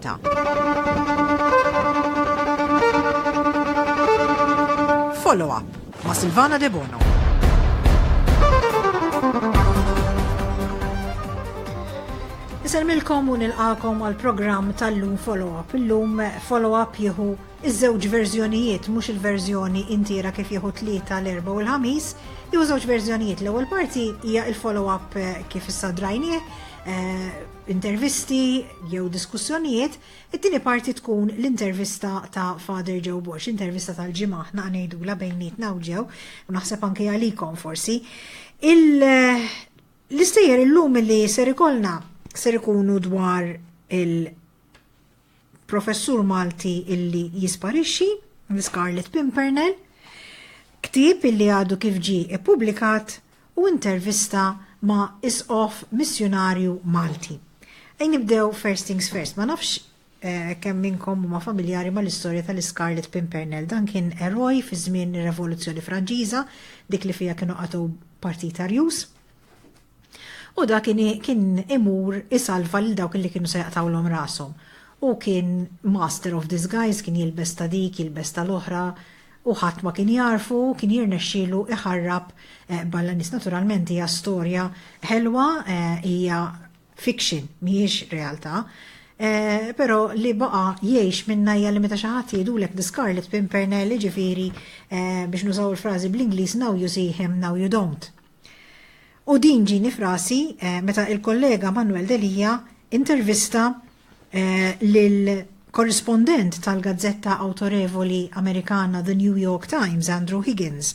Valletta. Follow up ma' Silvana Debono. Iselmilkom u nilqakom għal programm tal-lum follow-up. Illum follow-up jieħu iż-żewġ verżjonijiet, mhux il-verżjoni intiera kif jieħu tlieta l-erba' u l-ħamis, jew żewġ verżjonijiet. L-ewwel parti hija il-follow-up eh, kif issa drajnieh, eh, intervisti jew diskussjonijiet, it-tieni parti tkun l-intervista ta' Father Joe Borg, l-intervista tal-ġimgħa aħna ngħidulha bejnietna hawn ġew, u naħseb anke għalikom forsi. L-istejjer illum li ser ikollna ser ikunu dwar il- Professur Malti illi jisparixxi, The Scarlet Pimpernel, ktieb illi għadu kif ġie ippubblikat u intervista ma' Isqof missjunarju Malti. Ejn nibdew first things first, ma nafx kemm minnkom huma familjari mal-istorja tal-Iscarlet Pimpernel. Dan kien eroj fi żmien ir-Revoluzzjoni Franċiża, dik li fiha kienu qatgħu partit Arjuż. U da kien kien imur isalva lil dawk li kienu se jaqtgħulhom rashom. Hu kien master of disguise, kien jilbes ta' dik, jilbes tal-oħra, u ħadd ma kien jagħrfu, kien jirnexxielu iħarrab balla nies. Naturalment hija storja ħelwa, hija fiction, mhijiex realtà, però li baqa' jgħix minnha hija li meta xi ħadd jgħidulek The Scarlet Pimpernel, jiġifieri biex nużaw il-frażi bl-Ingliż now you see him, now you don't. U din ġini f'rasi meta il-kollega Manuel Delia intervista lil korrispondent tal-gazzetta awtorevoli Amerikana The New York Times, Andrew Higgins,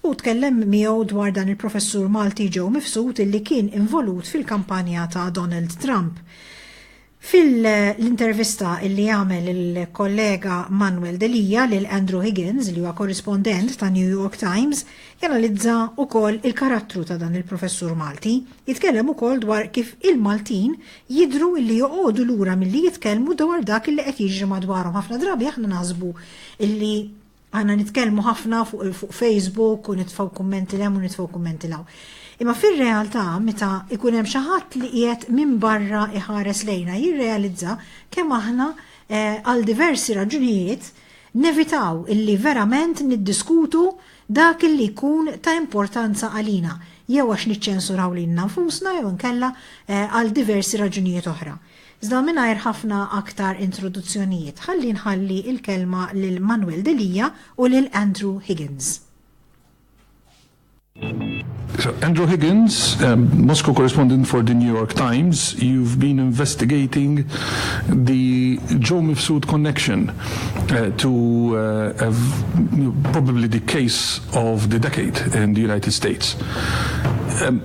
u tkellem miegħu dwar dan il-professur Malti Joe Mifsud illi kien involut fil-kampanja ta' Donald Trump. Fil-intervista li għamel il-kollega Manuel Delia lil Andrew Higgins, li huwa korrispondent ta' New York Times, janalizza wkoll il-karattru ta' dan il-professur Malti. Jitkellem ukoll dwar kif il-Maltin jidhru li joqogħdu lura milli jitkellmu dwar dak li qed jiġri madwarhom. Ħafna drabi aħna naħsbu li Aħna nitkellmu ħafna fuq Facebook u nitfgħu kummenti l-hemm u nitfgħu kummenti l-hawn. Imma fir-realtà meta ikun hemm xi ħadd li qiegħed minn barra iħares lejna jirrealizza kemm aħna eh, għal diversi raġunijiet nevitaw illi verament niddiskutu dak illi jkun ta' importanza għalina jew għax niċċensuraw lilna nfusna jew nkella eh, għal diversi raġunijiet oħra. Iżda mingħajr ħafna aktar introduzzjonijiet, ħalli nħalli l-kelma lil Manuel Delia u lil Andrew Higgins. Andrew Higgins, Moscow correspondent for the New York Times, you've been investigating the Joe Mifsud connection uh, to uh, uh, probably the case of the decade in the United States. Um,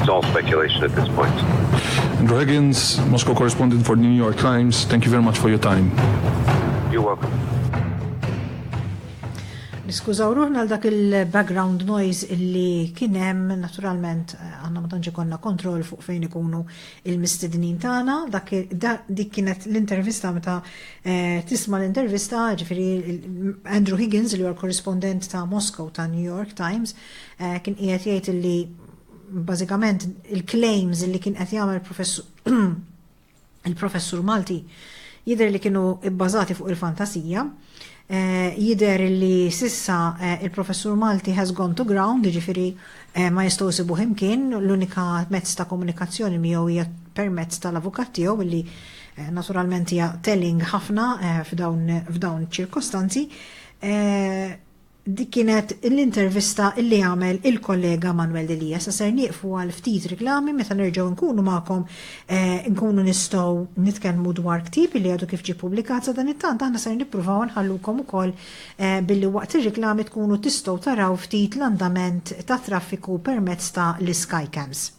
It's all speculation at this point. Andrew Higgins, Moscow correspondent for the New York Times, thank you very much for your time. You're welcome. Niskużaw ruħna għal dak il-background noise illi kien hemm naturalment eh, għandna ma tantx ikollna kontroll fuq fejn ikunu il-mistednin tagħna. Dik kienet l-intervista meta eh, tisma' l-intervista ġifieri Andrew Higgins li huwa korrispondent ta' Moscow ta' New York Times eh, kien qiegħed jgħid illi bażikament il-claims li kien qed jagħmel il-professur Malti jidher li kienu bbażati fuq il-fantasija. Eh, jidher li sissa eh, il-professur Malti has gone to ground, ġifiri eh, ma jistgħu sibu himkien, l-unika mezz ta' komunikazzjoni miegħu hija permezz tal-avukat tiegħu li naturalment hija telling ħafna f'dawn ċirkostanzi. Dik kienet l-intervista li għamel il-kollega Manuel Delia. Issa ser nieqfu għal ftit riklami meta nerġgħu nkunu magħkom nkunu nistgħu nitkellmu dwar ktieb li għadu kif ġie ppubblikat. Sadanittant aħna ser nippruvaw nħallukom ukoll billi waqt ir-riklami tkunu tistgħu taraw ftit l-andament tat-traffiku permezz ta' l-skycams.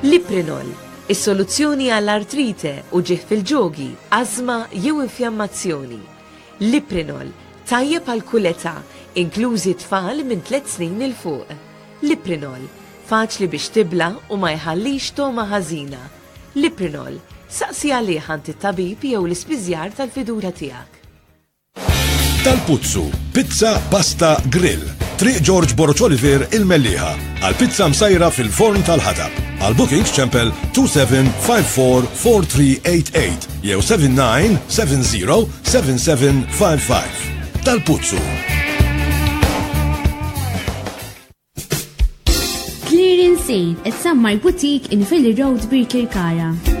Liprinol, is-soluzzjoni għall-artrite, uġigħ fil-ġogi, ażma jew infjammazzjoni. Liprinol, tajjeb għal kull età, inklużi tfal minn tliet snin 'il fuq. Liprinol, faċli biex tibla' u ma jħallix togħma ħażina. Liprinol, saqsi għalih għand it-tabib jew l-ispiżjar tal-fiduċja tiegħek. Tal-Puzzu, pizza, pasta, grill. Triq George Borg Oliver il-Melliħa. Għal pizza msajra fil-forn tal-ħatab. Għal bookings ċempel 27544388 jew 79707755. Tal-Puzzu. Clearing Sale, is-Sammar Boutique in Philly Road Birkirkara.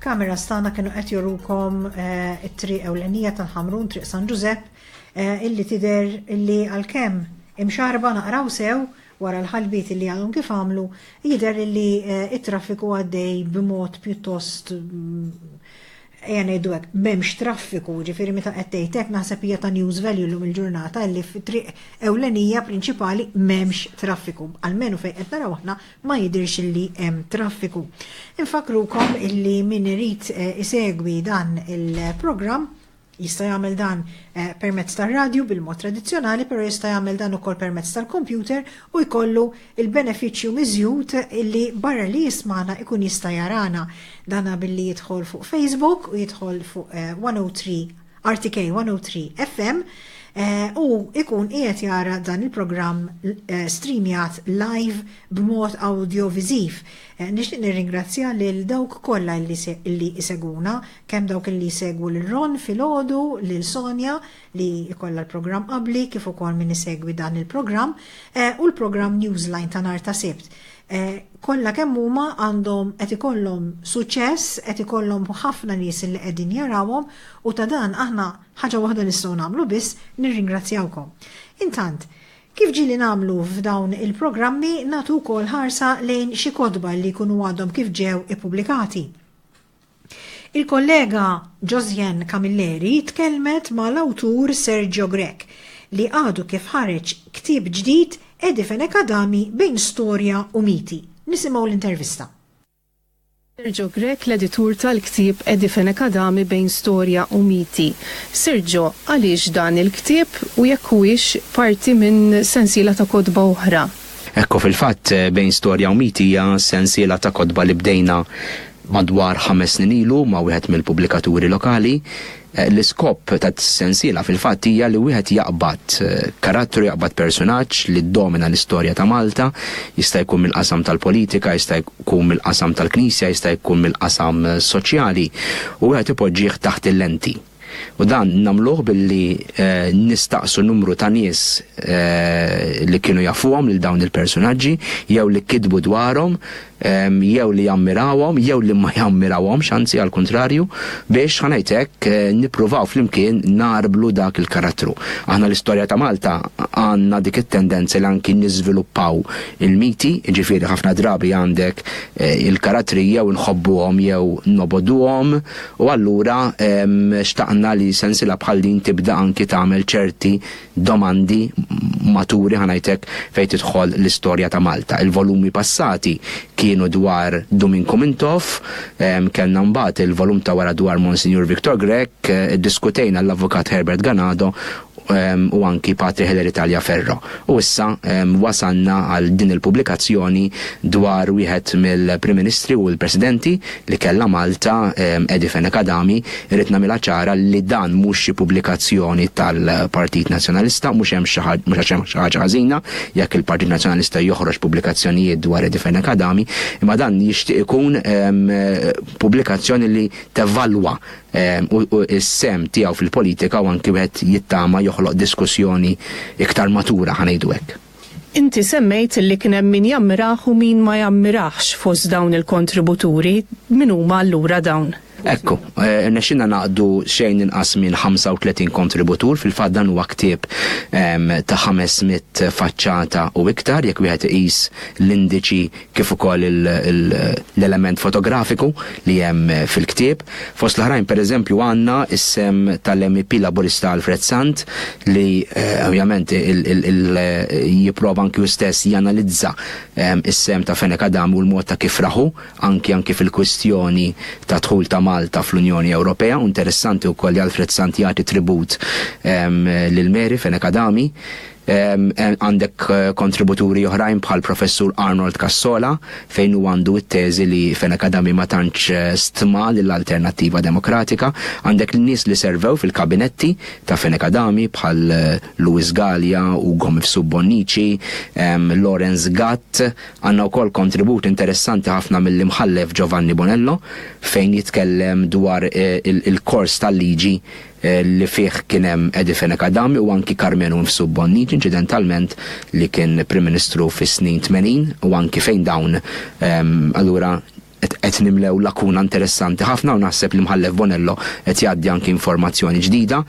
Kamera stana kienu qed jorukom eh, it-triq ewlenija tal-Ħamrun, triq San Ġużepp, eh, illi tider illi għalkemm imxarba naqraw sew wara l-ħalbit illi għadhom kif għamlu, jider illi eh, it-traffiku għaddej b'mod pjuttost mm, ejja ngħidu hekk m'hemmx traffiku, ġifieri meta qed tgħidlek naħseb hija ta' news value llum il-ġurnata li f'triq ewlenija prinċipali m'hemmx traffiku. Almenu fejn qed naraw aħna ma jidhirx illi hemm traffiku. Infakkrukom illi min irid isegwi dan il-programm jista' jagħmel dan permezz tar-radju bil-mod tradizzjonali, però jista' jagħmel dan ukoll permezz tal-kompjuter u jkollu l-benefiċċju miżjud illi barra li jismagħna jkun jista' jarana. Dan billi jidħol fuq Facebook u jidħol fuq 103 RTK 103 FM eh, u ikun qiegħed jara dan il-programm eh, streamjat live b'mod audio viżiv. Eh, nixtieq nirringrazzja lil dawk kollha li iseguna, kemm dawk li jsegwu lil Ron filgħodu, lil Sonja li jkollha l-programm qabli kif ukoll min isegwi dan il-programm u l-programm Newsline ta' nhar ta' Sibt. kollha kemm huma għandhom qed ikollhom suċċess, qed ikollhom ħafna nies li qegħdin jarawhom u ta' dan aħna ħaġa waħda nistgħu nagħmlu biss, nirringrazzjawkom. Intant, kif ġieli nagħmlu f'dawn il-programmi nagħtu wkoll ħarsa lejn xi kotba li jkunu għadhom kif ġew ippubblikati. Il-kollega Josiane Camilleri tkellmet ma' l-awtur Sergio Grech li għadu kif ħareġ ktieb ġdid Edi Fenech Adami bejn storja u miti. Nisimgħu l-intervista. Sergio Grech l-editur tal-ktieb Edi Fenech Adami bejn storja u miti. Sergio, għaliex dan il-ktieb u jekk huwiex parti minn sensiela ta' kotba oħra? Hekk hu fil-fatt, Bejn Storja u Miti hija sensiela ta' kotba li bdejna madwar ħames snin ilu ma' wieħed mill-pubblikaturi lokali. L-iskop tas-sensiela fil-fatt hija li wieħed jaqbad karattru, jaqbad persunaġġ li ddomina l-istorja ta' Malta, jista' jkun mill-qasam tal-politika, jista' jkun mill-qasam tal-Knisja, jista' jkun mill-qasam soċjali, u wieħed ipoġġih taħt il-lenti. U dan nagħmluh billi nistaqsu numru ta' nies li kienu jafuhom lil dawn il-persunaġġi, jew li kitbu dwarhom, jew li jammirawhom, jew li ma jammirawhomx, anzi għall-kuntrarju, biex, ħa ngħid hekk, nippruvaw flimkien ngħarblu dak il-karattru. Aħna l-istorja ta' Malta għandna dik it-tendenza li anki niżviluppaw il-miti, jiġifieri ħafna drabi għandek il-karattri jew inħobbuhom jew nobogħduhom, U allura xtaqna li sensiela bħal din tibda anki tagħmel ċerti domandi maturi ħa ngħid hekk fejn tidħol l-istorja ta' Malta. Il-volumi passati kienu dwar Duminku Mintoff, kellna mbagħad il-volum ta' wara dwar Monsinjur Victor Grech, iddiskutejna l-Avukat Herbert Ganado u anki Patri Hilary Taliaferro. U issa wasalna għal din il-pubblikazzjoni dwar wieħed mill-Prim Ministri u l-Presidenti li kellha Malta, Eddie Fenech Adami. Irrid nagħmilha ċara li dan mhux xi pubblikazzjoni tal-Partit Nazzjonalista, mhux hemm xi ħaġ, mhux għax hemm xi ħaġa ħażina jekk il-Partit Nazzjonalista joħroġ pubblikazzjonijiet dwar Eddie Fenech Adami, imma dan jixtieq ikun pubblikazzjoni li tevalwa u s-sehem tiegħu fil-politika u anki wieħed jittama joħloq diskussjoni iktar matura, ħa ngħidu hekk. Inti semmejt li kien hemm min jammirah u min ma jammirahx fost dawn il-kontributuri, min huma allura dawn? Ekku, irnexxielna ngħaqqdu xejn inqas minn 35 kontributur, fil-fatt dan huwa ktieb ta' 500 faċċata u iktar jekk wieħed iqis l-indiċi kif ukoll l-element fotografiku li hemm fil-ktieb. Fost l-oħrajn, pereżempju, għandna s-sehem tal-MEP Laburista Alfred Sant li ovvjament jipprova anki hu stess janalizza s-sehem ta' Fenech Adami u l-mod ta' kif rahu anki anki fil-kwistjoni tad-dħul ta' Malta fl-Unjoni Ewropea u interessanti wkoll li Alfred Sant jagħti tribut lil Mary, Fenech Adami. Għandek kontributuri oħrajn bħal Professur Arnold Cassola fejn huwa għandu t-teżi li Fenech Adami ma tantx eh, stma lill-Alternattiva Demokratika. Għandek l-nies li servew fil-kabinetti ta' Fenech Adami bħal eh, Louis Gallia, Ugo Mifsu Bonnici, Lorenz Gatt. Għandna wkoll kontribut interessanti ħafna mill-imħallef Giovanni Bonello fejn jitkellem dwar eh, il-kors tal-liġi li fih kien hemm Eddie Fenech Adami u anki Karmenu nnfsu Bonnic inċidentalment li kien Prim Ministru fis-snin tmenin u anki fejn dawn allura qed nimlew lakuna interessanti ħafna u naħseb l-Imħallef Bonello qed jgħaddi anki informazzjoni ġdida.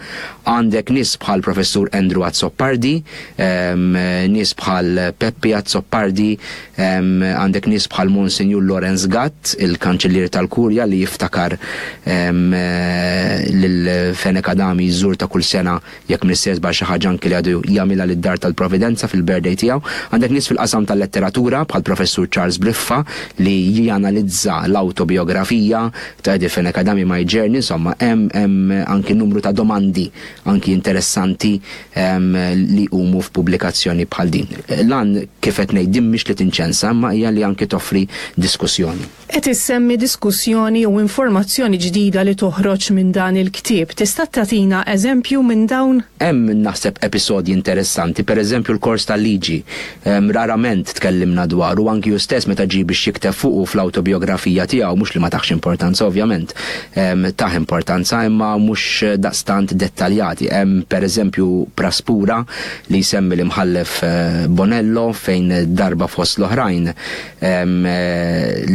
Għandek nies bħal Professur Andrew Azzopardi, nies bħal Peppi Azzopardi, Għandek nies bħal Monsinjur Lawrence Gatt, il-Kanċillier tal-Kurja li jiftakar lil Fenech Adami jżurta kull sena jekk m'iniex se żball xi ħaġa anki li għadu jagħmilha lid-Dar tal-Providenza fil-birthday tiegħu. Għandek nies fil-qasam tal-letteratura bħal Professur Charles Briffa li janalizza l-awtobijografija ta' Eddie Fenech Adami My Journey, insomma hemm anki numru ta' domandi anki interessanti li jqumu f'pubblikazzjoni bħal din. L-għan, kif qed ngħid, din mhix li tinċensa imma hija li anki toffri diskussjoni. Qed issemmi diskussjoni jew informazzjoni ġdida li toħroġ minn dan il-ktieb. Tista' tagħtina eżempju minn dawn? Hemm, naħseb, episodji interessanti, pereżempju l-kors tal-liġi Rarament tkellimna dwaru, anki hu stess meta ġie biex jikteb fuqu fl-awtobijografija tiegħu, mhux li ma tahx importanza ovvjament, tah importanza imma mhux daqstant dettaljati. Hemm pereżempju praspura li jsemmi l-Imħallef Bonello fejn darba fost l-oħrajn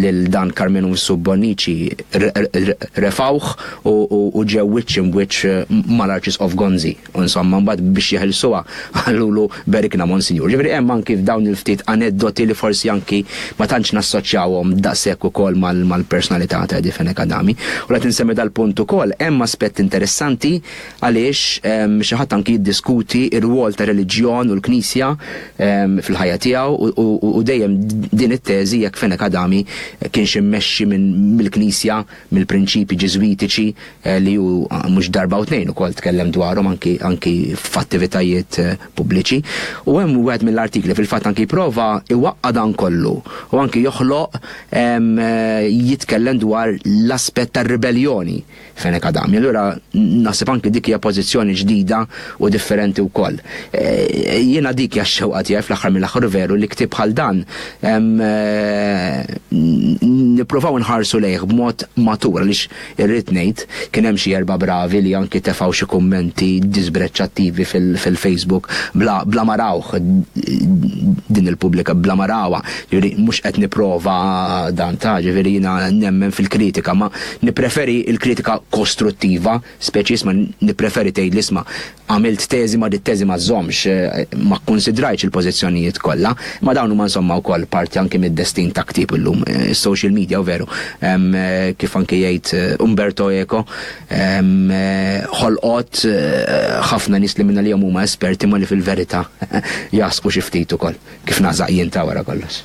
lil dan Carmenus Bonnici refgħuh u ġew wiċċ imbwiċċ mal-Arċisqof Gonzi. U insomma mbagħad biex jeħilsuha qalulu Berikna Monsinjur. Ġifieri hemm anki f'dawn il-ftit aneddoti li forsi anki ma tantx nassoċjawhom daqshekk ukoll mal-personalità ta' Eddie Fenech Adami. U qed insemmi dal-punt ukoll, hemm aspett interessanti għaliex xi ħadd anki jiddiskuti r-rwol tar-reliġjon u l-Knisja fil-ħajja tiegħu u dejjem din it-teżi jekk Fenech Adami kienx immexxi mill-Knisja mill-prinċipji Ġiżwitiċi li hu mhux darba u tnejn ukoll tkellem dwarhom anki anki f'attivitajiet pubbliċi. U hemm wieħed mill-artikli fil-fatt anki jipprova iwaqqa' dan kollu u anki joħloq jitkellem dwar l-aspett tar-ribeljoni Fenech Adami. Allura naħseb anki dik hija pożizzjoni ġdida u differenti wkoll. Jiena dik hija x-xewqa tiegħi fl-aħħar mill-aħħar u veru li ktieb bħal dan Nipprovaw inħarsu lejh b'mod matur għaliex irrid ngħid kien hemm xi erba' bravi li anki tefgħu xi kummenti diżbreċċattivi fil-Facebook bla ma rawh din il-pubblika bla ma rawha. Jiġifieri mhux qed nipprova dan ta' jiġifieri jiena nemmen fil-kritika ma nippreferi l-kritika kostruttiva speċi isma' nippreferi tgħidli isma' Għamilt teżi ma dit-teżi ma żżommx, ma kkunsidrajtx il-pożizzjonijiet kollha, imma dawn huma insomma wkoll parti anki mid-destin ta' ktieb illum. Is-social media, u veru, kif anki jgħid Umberto Eco, ħolqot ħafna nies li minn għalihom huma esperti imma li fil-verità jagħsqu xi ftit ukoll, kif nagħsaq jien ta' wara kollox.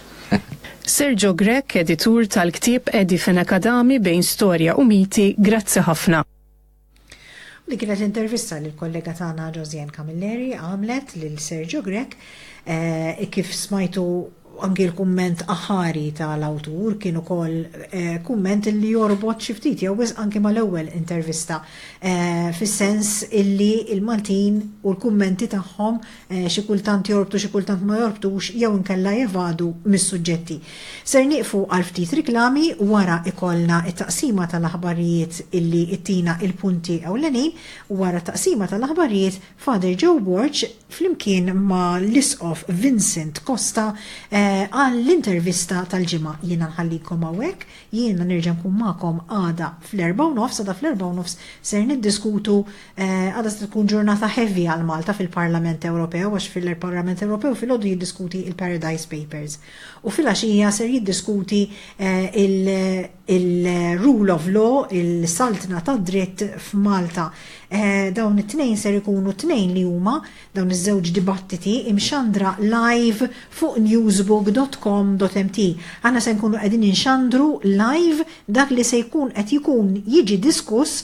Sergio Grech, editur tal-ktieb Edi Fenech Adami bejn storja u miti, grazzi ħafna. Din kienet intervista li l-kollega tagħna Josiane Camilleri għamlet lil Sergio Grech. Kif smajtu anki l-kumment aħħari tal-awtur kien ukoll kumment li jorbot xi ftit jew wisq anki mal-ewwel intervista fis-sens illi l-Maltin u l-kummenti tagħhom xi kultant jorbtu xi kultant ma jorbtux jew inkella jevadu mis-suġġetti. Ser nieqfu għal ftit riklami, wara ikollna t-taqsima tal-aħbarijiet illi ttina il-punti ewlenin, wara t-taqsima tal-aħbarijiet Father Joe Borg flimkien ma' l-Isqof Vincent Costa għall-intervista tal-ġimgħa. Jiena nħallikom hawnhekk, jiena nerġa' nkun magħkom għada fl-erbgħa u nofs, għada fl-erbgħa u nofs ser niddiskutu Għada se tkun ġurnata heavy għal Malta fil-Parlament Ewropew għax fil-Parlament Ewropew filgħodu jiddiskuti il-Paradise Papers u filgħaxija ser jiddiskuti il-Rule of Law, il-Saltna tad-Dritt f'Malta. Dawn it-tnejn ser ikunu tnejn li huma dawn iż-żewġ dibattiti imxandra live fuq newsbook.com.mt. Aħna se nkunu qegħdin inxandru live dak li se jkun qed jkun jiġi diskuss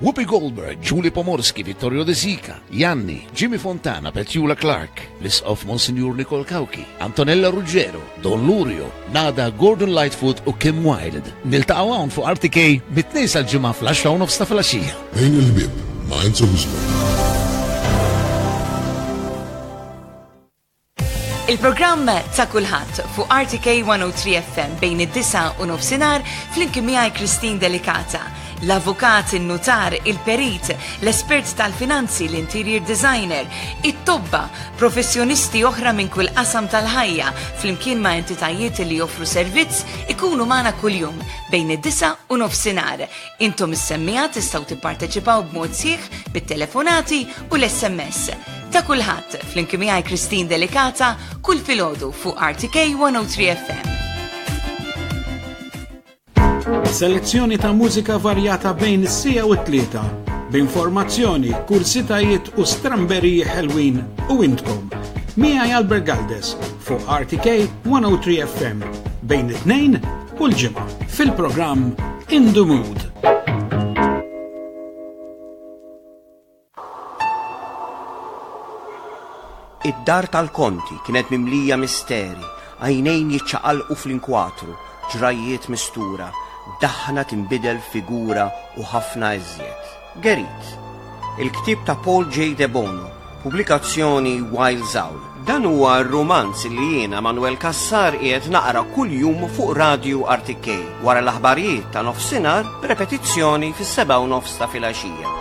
Whoopi Goldberg, Julie Pomorski, Vittorio De Sica, Janni, Jimmy Fontana, Petula Clarke, l-Isqof Monsinjur Nicole Cauchi, Antonella Ruggiero, Don Lurio, Nada, Gordon Lightfoot u Kim Wilde. Niltaqgħu hawn fuq RTK mit-Tnejn sal-Ġimgħa fl-10 u nofs ta' filgħaxija. Għin il-ħbieb ma' Enzo Guzman. Il-programm ta' kulħadd fuq RTK 103 FM bejn id-disa u nofsinhar flimkien miegħi Christine Delicata, l-avukat, in-nutar, il-perit, l-espert tal-finanzi, l-interior designer, it-tobba, professjonisti oħra minn kull qasam tal-ħajja flimkien ma' entitajiet li joffru servizz ikunu magħna kuljum bejn id-disa u nofsinhar. Intom is-semmiegħa tistgħu tipparteċipaw b'mod sieħ bit-telefonati u l-SMS. Ta' kulħadd, flimkien miegħi Kristin Delikata, kull filgħodu fuq RTK 103 FM. Selezzjoni ta' mużika varjata bejn is-sija u t-tlieta b'informazzjoni, kursitajiet u stramberiji ħelwin u intkom. Mija Albert Galdes fuq RTK 103 FM bejn it-tnejn Kull ġimgħa fil-programm In the Mood. Id-dar tal-konti kienet mimlija misteri, għajnejn jiċċaqalqu fl-inkwatru, ġrajiet mistura, daħna timbidel figura u ħafna eżjed. Gerit, il-ktieb ta' Paul J. Debono, pubblikazzjoni Wiles Owl. Dan huwa r-rumanz li jiena Manwel Cassar qiegħed naqra kuljum fuq Radju RTK wara l-aħbarijiet ta' nofsinhar b'repetizzjoni fis-sebgħa u nofs ta' filgħaxija.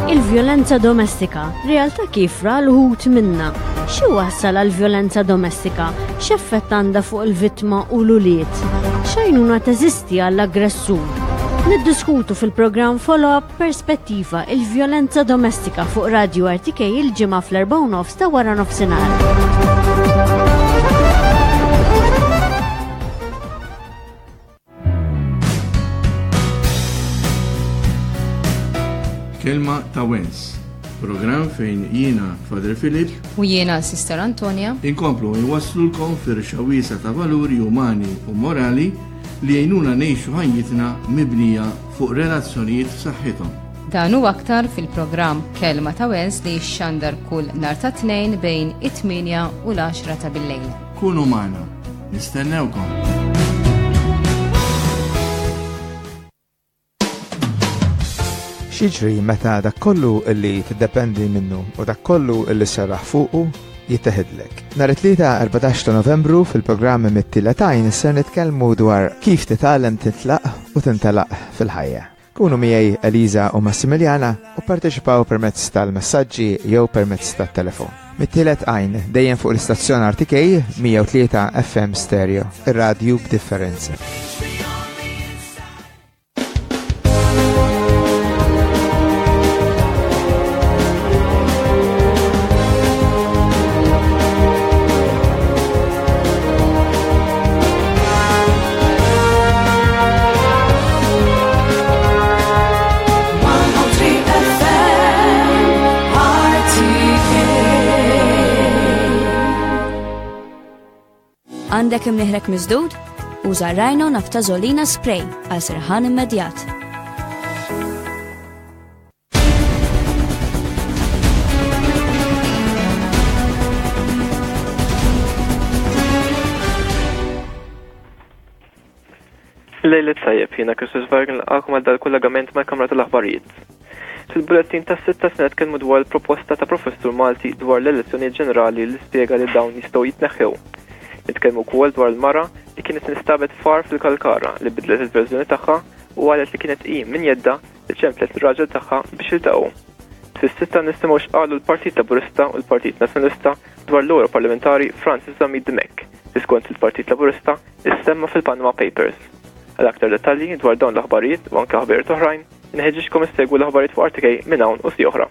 Il-vjolenza domestika, realtà kif ra l-ħut minna. Xi wassal għal vjolenza domestika? X'effett għandha fuq il-vittma u l-ulied? X'għajnuna teżisti għall-aggressur? Niddiskutu fil-programm Follow-up Perspettiva il-vjolenza domestika fuq Radio RTK il-ġimgħa fl-4 nofs ta' wara nofsinhar. Kelma ta' Wens. Program fejn jiena Fader Filip u jiena Sister Antonia inkomplu jwasslulkom fir xawisa ta' valuri umani u morali li jgħinuna nejxu ħajjitna mibnija fuq relazzjonijiet f'saħħithom. Dan u aktar fil-programm Kelma ta' Wens li xandar kull nar ta' tnejn bejn it-8 u l-10 ta' bil-lejl. Kunu magħna, nistennewkom! Xiġri meta dak kollu li tiddependi minnu u dak kollu li serraħ fuqu jitteħidlek. Nhar it-tlieta 14 ta' Novembru fil-programm mit-tila tajn ser nitkellmu dwar kif titgħallem titlaq u tintelaq fil-ħajja. Kunu miegħi Eliża u Massimiljana u pparteċipaw permezz tal-messaġġi jew permezz tat-telefon. Mit-tielet għajn, dejjem fuq l-istazzjon RTK 103 FM Stereo, ir-radju b'differenza. Għandek imniħrek miżdud? Uża rajno naftazolina spray għal serħan immedjat. Lejlet tajjeb, jiena Kristus Vargin l-għakum għal dal-kollegament mal-Kamra tal-Aħbarijiet. Fil-bulletin tas sitta se nitkellmu dwar il-proposta ta' professur Malti dwar l-elezzjonijiet ġenerali li spjega li dawn jistgħu jitneħħew. Nitkellmu wkoll dwar il-mara li kienet instabet far fil-Kalkara li bidlet il-verżjoni tagħha u qalet li kienet hi min jedda Iċemplet lir-raġel tagħha biex jiltaqgħu. Fis-sitta nisimgħu x'qalu l-Partit Laburista u l-Partit Nazzjonalista dwar l-Ewro Parlamentari Francis Zammit Dimech li skont il-Partit Laburista issemma fil-Panama Papers. Għal aktar dettalji dwar dawn l-aħbarijiet u anke aħbarijiet oħrajn, inħeġġiġkom issegwu l-aħbarijiet fuq RTK minn hawn u si oħra.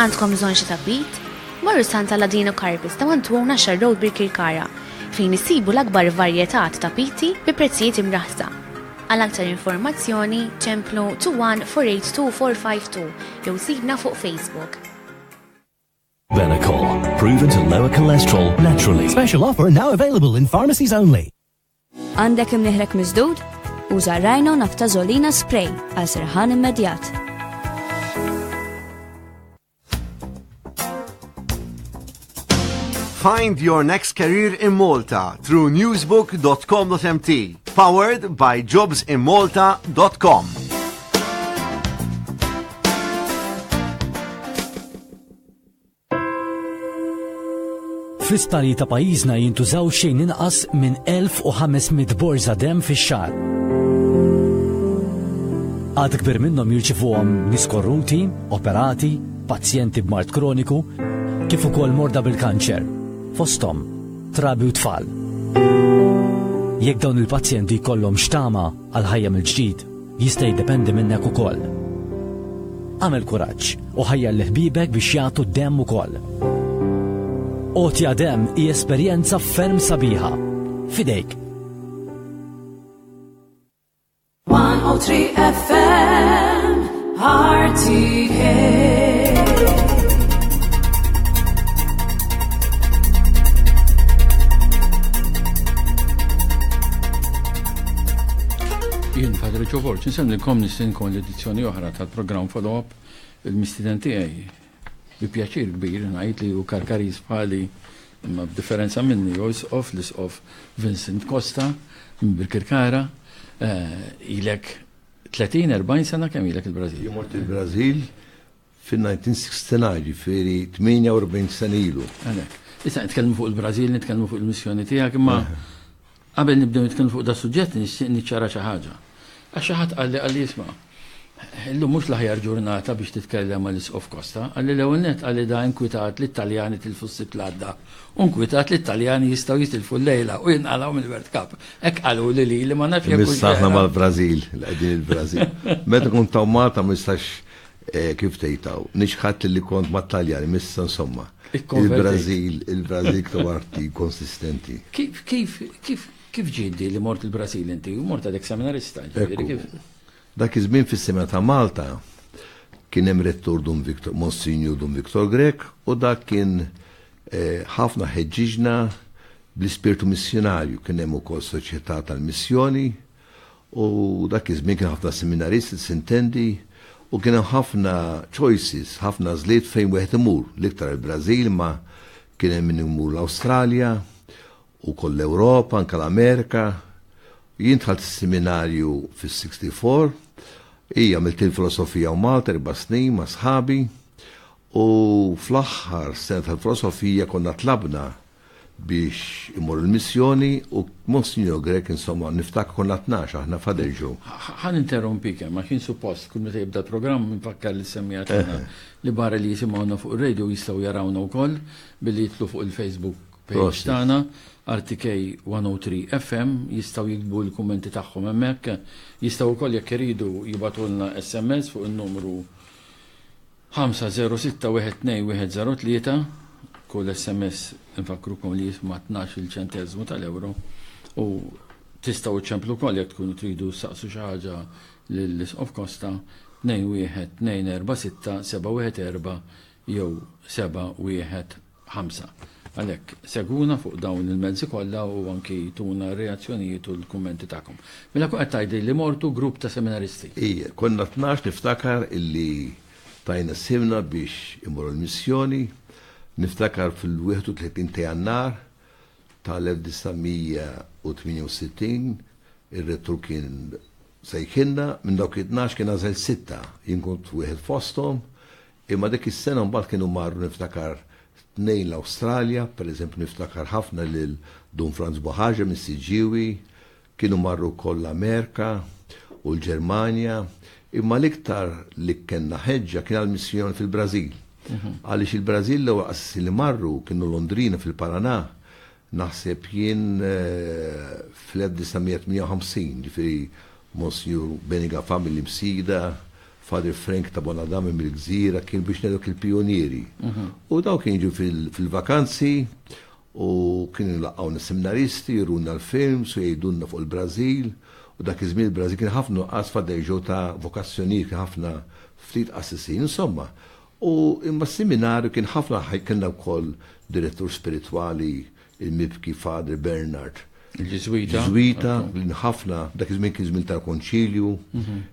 Għandkom bżonn xi tabbit? Morru Santa Ladino Carpets ta' 121 Ashar Road Birkirkara fejn issibu l-akbar varjetà ta' tapiti bi prezzijiet imraħħsa. Għal aktar informazzjoni ċemplu 21482 jew sibna fuq Facebook. Benecol, proven to lower cholesterol naturally. Special offer now available in pharmacies only. Għandek imnieħrek miżdud? Uża Rhino Naftazolina Spray għal serħan immedjat. Find your next career in Malta through newsbook.com.mt. Powered by jobsinmalta.com. Fl-isptali ta' pajjiżna jintużaw xejn inqas minn 1500 borża dem fix-xahar. Għad kbir minnhom jirċivuhom nies korruti, operati, pazjenti b'mard kroniku, kif ukoll morda bil-kanċer, fosthom trabi u tfal. Jekk dawn il-pazjenti jkollhom xtama għal ħajja mill-ġdid, Jista' jiddependi minnek ukoll. Agħmel kuraġġ u ħajjar lil ħbiebek biex jagħtu d-demm ukoll. Għotja demm hi esperjenza ferm sabiħa. F'idejk! 103 FM RTK Jien Padre Ġovorġ, nsemmilkom nistinkom l-edizzjoni oħra tal-programm follow-up il-mistiden tiegħi. Bi pjaċir kbir ngħid li hu karkariż bħali imma b'differenza minni jew isqof l-isqof Vincent Costa minn Birkirkara. Eh, ilek 30-40 sena kemm ilek il-Brażil? Jimort il-Brażil fin-1969, jiġifieri 48 sena ilu. Għalhekk. Issa nitkellmu fuq il-Brażil, nitkellmu fuq il-missjoni tiegħek, imma qabel nibdew nitkellmu fuq da suġġett nixtieq niċċara xi ħaġa. Għax xi ħadd qalli qalli isma' illum mhux l-aħjar ġurnata biex titkellem ma' l-Isqof Costa, qalli l-ewwel nett qalli da inkwitat li t-Taljani tilfu s-Sibt l-għadda u nkwitat li t-Taljani jistgħu jitilfu l-lejla u jinqalgħu mill-World Cup. Hekk qaluli lili ma nafx jekk. Missa aħna mal-Brażil, qegħdin il-Brażil. Meta kont taw Malta ma nistax Kif tgħid hawn? Niċħad li kont mat-Taljani, m'issa insomma. Il-Brażil, il-Brażil ktaw arti konsistenti. Kif, kif, kif, kif ġiet li mort il-Brażil inti? Mort għadek seminarista, ġifieri kif? Dak iż-żmien fis-Semina ta' Malta kien hemm rettur Dun Victor, Monsinju Dun Victor Grek, u dak kien eh, ħafna ħeġġiġna bl-ispirtu missjonarju. Kien hemm ukoll soċjetà tal-missjoni, U dak iż-żmien kien ħafna seminaristi, sintendi, u kien hemm ħafna choices, ħafna għażliet fejn wieħed imur, l-iktar il-Brażil ma kien hemm min imur l-Awstralja u koll l-Ewropa, anke l-Amerika. Jien dħalt is-seminarju fis-64, hija għamilt il-filosofija u Malta erba' snin ma' sħabi u fl-aħħar sena tal-filosofija konna tlabna biex imorru l-missjoni u Monsinjur Grech insomma niftakru konna tnax aħna f'Ħaderġu. Ħa ninterrompik hemm għax jien suppost kull meta jibda l-programm infakkar lis-semmiegħa tagħna li barra li jisimgħuna fuq ir-radio jistgħu jarawna wkoll billi jidħlu fuq il-Facebook page tagħna RTK 103 FM jistgħu jiktbu l-kummenti tagħhom hemmhekk. Jistgħu wkoll jekk iridu jibgħatulna SMS fuq in-numru Ħamsa żero sitta wieħed tnejn wieħed żero tlieta, Kull SMS infakkrukom li jisma' tnax-il ċenteżmu tal-ewro u tistgħu iċċemplu wkoll jekk tkunu tridu ssaqsu xi ħaġa lill-Isqof Costa tnejn wieħed tnejn erba' sitta seba' wieħed erba' jew seba' wieħed Ħamsa. Għalhekk, segwuna fuq dawn il-mezzi kollha u anki tuna r-reazzjonijiet u l-kummenti tagħkom. Mela kun qed tgħidli li mortu grupp ta' seminaristi. Ija, konna tnax niftakar illi tajna sihemna biex immorru l-missjoni. Niftakar fil-31 ta' Jannar tal-1968 ir-rettur kien sejħilna, minn dawk it-tnax kien għażel sitta, jien kont wieħed fosthom, Imma dik is-sena mbagħad kienu marru niftakar tnejn l-Awstralja, per eżempju niftakar ħafna lil Dun Franz Bohaġa mis-Siġġiewi, kienu marru wkoll l-Amerika u l-Ġermanja, imma l-iktar li kellna ħeġġa kien għall-missjoni fil-Brażil. Għaliex il-Brażil l-ewwel qassisin li marru kienu Londrina fil-Paraná, Naħseb jien fl-1958, ġifieri Monsinjur Beniga Fami l-Imsida, Father Frank ta' Bonadame mill-Gżira kien biex ngħidlek il-pijunieri. U dawn kien jiġu fil-vakanzi u kien nlaqgħu nis-seminaristi, juruna l-films u jgħidulna fuq il-Brażil. U dak iż-żmien il-Brażil kien ħafna nuqqas f'Għaddeġo ta' vokazzjonijiet, kien ħafna ftit qassisin, insomma. U imma s-Siminarju kien ħafna ħaj kellna wkoll Direttur Spiritwali il-mibki Father Bernard. Il-Ġiżwita. Ġiżwita, qbilin ħafna, dak iż-żmien kien żmien tal-Konċilju,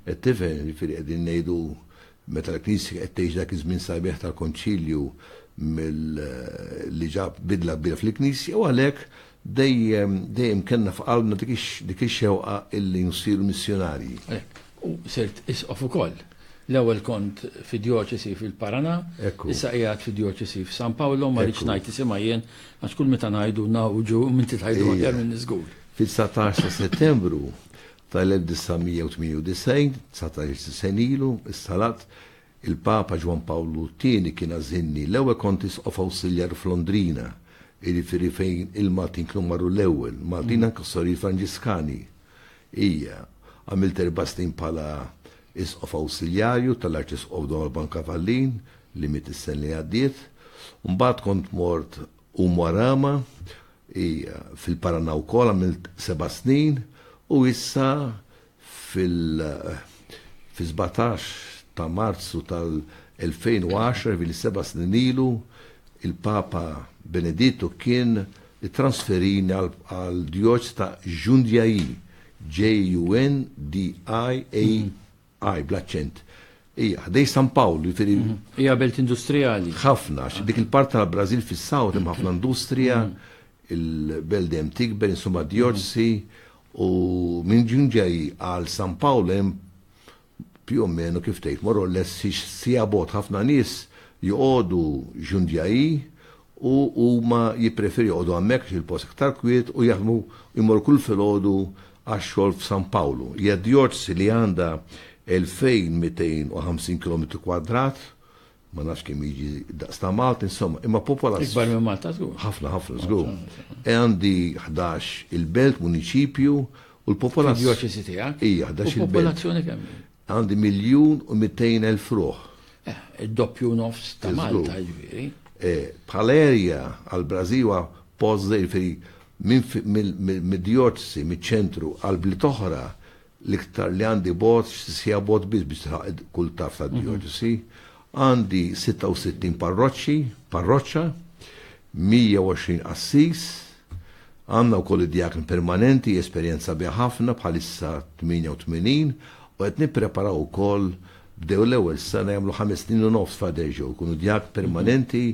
qed tifhem, jiġifieri qegħdin ngħidu meta l-Knisja qed tgħix dak iż-żmien sabiħ tal-Konċilju mill li ġab bidla kbira fil-Knisja u għalhekk Dejjem, dejjem kellna f'qalbna dik ix, dik ix-xewqa illi nsiru missjunarji. Hekk. U sirt Isqof ukoll. L-ewwel kont fi djoċesi fil-Paraná, Hekk hu. issa qiegħed fi djoċesi f'San Pawlo, ma rridx ngħid isimha jien, għax kull meta ngħidu ngħawġu u m'inti tgħidu aħjar minni żgur. Fit-dsatax ta' Settembru tal-1998, dsatax-il sena ilu, issa l-Att, Il-Papa Ġwann Pawlu t-Tieni kien għażilni l-ewwel Kontis of Awsiljar f'Londrina, jiġifieri fejn il-Maltin kienu marru l-ewwel, Maltin anke s-Sorijiet Franġiskani. Ija, għamilt erba' snin bħala Isqof Awsiljarju tal-Arċisqof Don Alban Cavallin, li miet is-sena li għaddiet. Mbagħad kont mort Umuarama, ija, fil-Paraná wkoll għamilt seba' snin u issa fil-17 ta' Marzu tal-2010, ġifieri seba' snin ilu, il-Papa Benedittu kien ittransferini għall-djoċesi ta' Jundiaí, J-U-N-D-I-A-I, bl-aċċent. Hija ħdej San Pawl, ġifieri. Hija belt industrijali. Ħafna, għax dik il-parti tal-Brażil fis-south hemm ħafna industrija, il-belt dejjem tikber, insomma d-djoċesi, U minn ġun ġej għal San Pawl hemm più o meno kif tgħid morru less sija bot ħafna nies joqogħdu ġun ġej u huma jippreferi joqogħdu hemmhekk il-post iktar kwiet u jaħdmu jmorru kull filgħodu għax-xogħol f'San Pawlu. Hija djorz li għandha 2250 km kwadrat Ma nafx kemm jiġi daqs ta' Malti, insomma, imma popola. Ikbar minn Malta żgur. Ħafna ħafna żgur. E għandi 11 il-belt, muniċipju, u l-popolazzjoni. Djoċesi tiegħek. Hija 11 il-belt. Popolazzjoni kemm? Għandi miljun u 200 elf ruħ. Eh, id-doppju nofs ta' Malta ġifieri. Eh, bħal erja għal Brażiwa pożżej fej minn mid-djoċesi, miċ-ċentru għal blit oħra l-iktar li għandi bogħod, xi siegħa bogħod biss biex tilħaq kull tarf tad-djoċesi, għandi 66 parroċċi, parroċċa, 120 qassis, għandna wkoll id-djakn permanenti, esperjenza biha ħafna bħalissa 88 u qed nippreparaw ukoll bdew l-ewwel sena jagħmlu ħames snin u nofs f'Adeġo, jkunu djak permanenti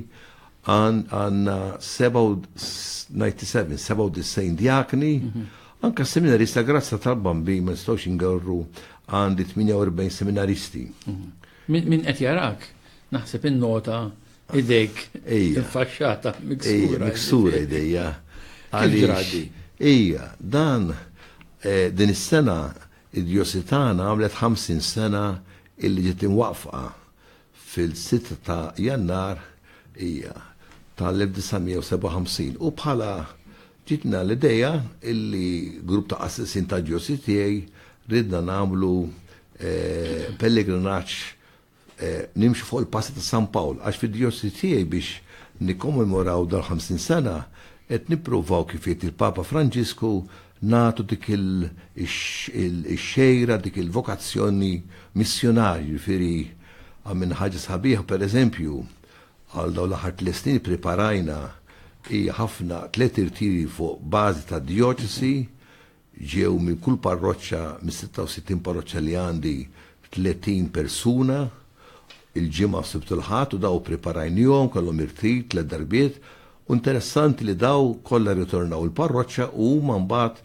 għanna 97, 97 djakni, mhm. anka seminarista grazza tal-bambi ma nistawx ingarru għandi 48 seminaristi. Mhm. Min qed jarak, naħseb in-nota idejk faxxata miksura. Miksura idejja. Għalġradi. Ija, dan eh, din is-sena id-diositana għamlet 50 sena illi ġiet imwaqfa fil-sitt ta' Jannar hija tal-1957 u bħala ġitna l-idea illi grupp ta' qassisin ta' ġosi tiegħi ridna nagħmlu pellegrinaġġ nimxu fuq il-passi ta' San Pawl għax fid-djosi tiegħi biex nikkommemoraw dal-50 sena qed nippruvaw kif jgħid il-Papa Franġisku nagħtu dik il-xejra, dik il-vokazzjoni missjunarju, jiġifieri għamilna ħaġa sabiħa pereżempju għal dawn l-aħħar tliet snin ippreparajna hija ħafna tliet irtiri fuq bażi ta' djoċesi ġew minn kull parroċċa mis-66 parroċċa li għandi 30 persuna il-Ġimgħa, s-Sibt u l-Ħadd u daw ippriparajnihom, kellhom irtid tliet darbiet u interessanti li daw kollha rritornaw il-parroċċa u huma mbagħad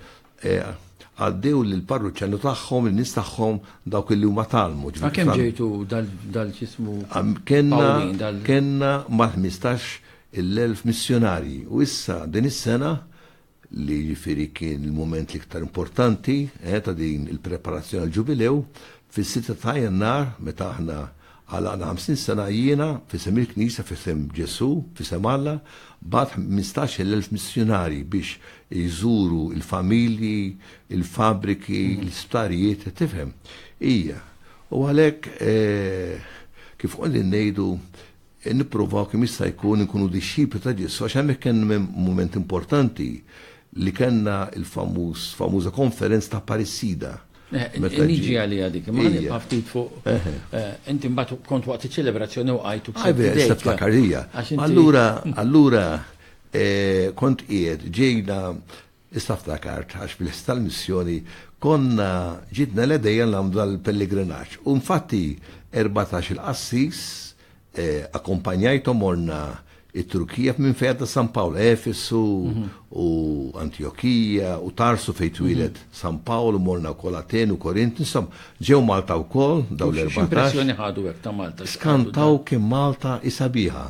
għaddew lill-parruċċani tagħhom, lin-nies tagħhom dawk illi huma tgħallmu. Ma kemm ġejtu dal-ġismu Pawlin? Kenna mal-15 il-elf missjonarji u issa din is-sena li jiġifieri kien il-mument l-iktar importanti ta' din il-preparazzjoni għall-Ġubilew, fis-sitta ta' Jannar meta aħna għalaqna ħamsin sena, jiena, f'isem il-Knisja, f'isem Ġesù, f'isem Alla, bgħatt ħmistax-il elf missjunarji biex iżuru l-familji, il-fabbriki, l-isptarijiet, qed tifhem? Hija. U għalhekk, kif qegħdin ngħidu, Nippruvaw kemm jista' jkun inkunu dixxipli ta' Ġesù għax hemmhekk kien hemm mument importanti li kellna l-famuż famuża konferenza ta' Parissida. Meta Niġi għaliha dik, imma ħalli nibqa' ftit fuq. Inti mbagħad kont waqt iċ-ċelebrazzjoni u qajt u ksert idejk. Issa ftakar hija. Allura allura kont qiegħed ġejna Issa ftakart, għax fil-ħsieb tal-missjoni konna ġidna l-għedejja nagħmlu dal-pellegrinaġġ. U infatti erbatax-il qassis akkumpanjajthom morna it-Turkija minn fejn għadda San Pawl, Efesu u Antjokija u Tarsu fejn twieled San Pawl u morna wkoll Aten u Korint, insomma, ġew Malta wkoll dawn l-erbatax. X'impressjoni ħadu hekk ta' Malta? Skantaw kemm Malta hi sabiħa.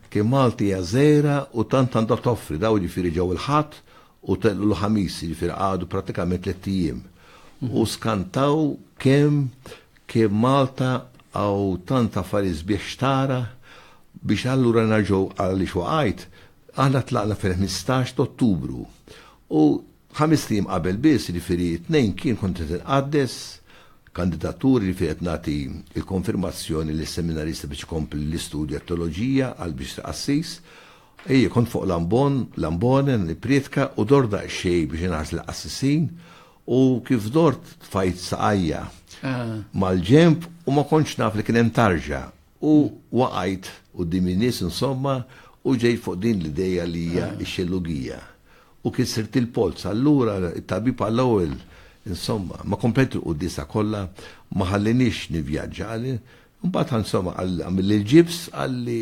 Kien Malti hija żgħira u tant għandha toffri, dawn jiġifieri ġew il-Ħadd u telqu l-Ħamis, jiġifieri qagħdu prattikament tlett ijiem u skantaw kemm kemm Malta hawn tant affarijiet sbieħ x'tara biex allura nerġgħu għaliex waqajt, aħna tlaqna fil-ħmistax t'Ottubru u Ħamest ijiem qabel biss, jiġifieri t-Tnejn, kien kont qed inqaddes kandidaturi, jiġifieri qed nagħti l-konfirmazzjoni lis-seminarista biex ikompli l-istudju għat-teoloġija għal biex isir qassis. Ejja, kont fuq l-ambon, l-ambone, nipprietka u dort daqsxejn biex inħares lill-qassisin u kif dort tfajt saqajja mal-ġenb u ma kontx naf li kien hemm tarġa U waqajt quddiem in-nies insomma u ġejt fuq din l-idea li hija x-xellugija. U kissert il-polz. Allura t-tabib għall-ewwel insomma ma komplejt il-quddiesa kollha, ma ħallienix nivvjaġġa. Imbagħad insomma qal għamilli l-ġibs, qalli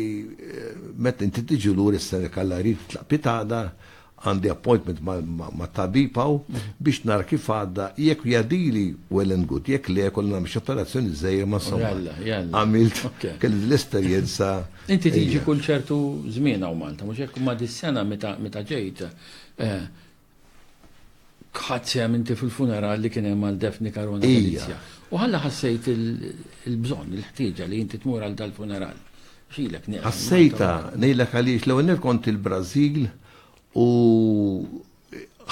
meta inti tiġi lura jistennek Alla jrid titlaq pitada, Għandi appointment mat-tabib hawn biex nara kif għadda, jekk jgħaddili well and good, jekk le jkolli nagħmel xi operazzjoni żgħira ma insomma. Jalla, jalla. Għamilt, kelli din l-esperjenza. Inti tiġi kull ċertu żmien hawn Malta, mhux hekk? Imma dis-sena meta ġejt, Ħadt sehem inti fil-funeral li kien hemm għal Daphne Caruana Galizia? U ħalla ħassejt il-bżonn, il-ħtieġa li inti tmur għal dal-funeral? X'ilek nieqes? Ħassejtha, ngħidlek għaliex l-ewwel nett kont il-Brażil u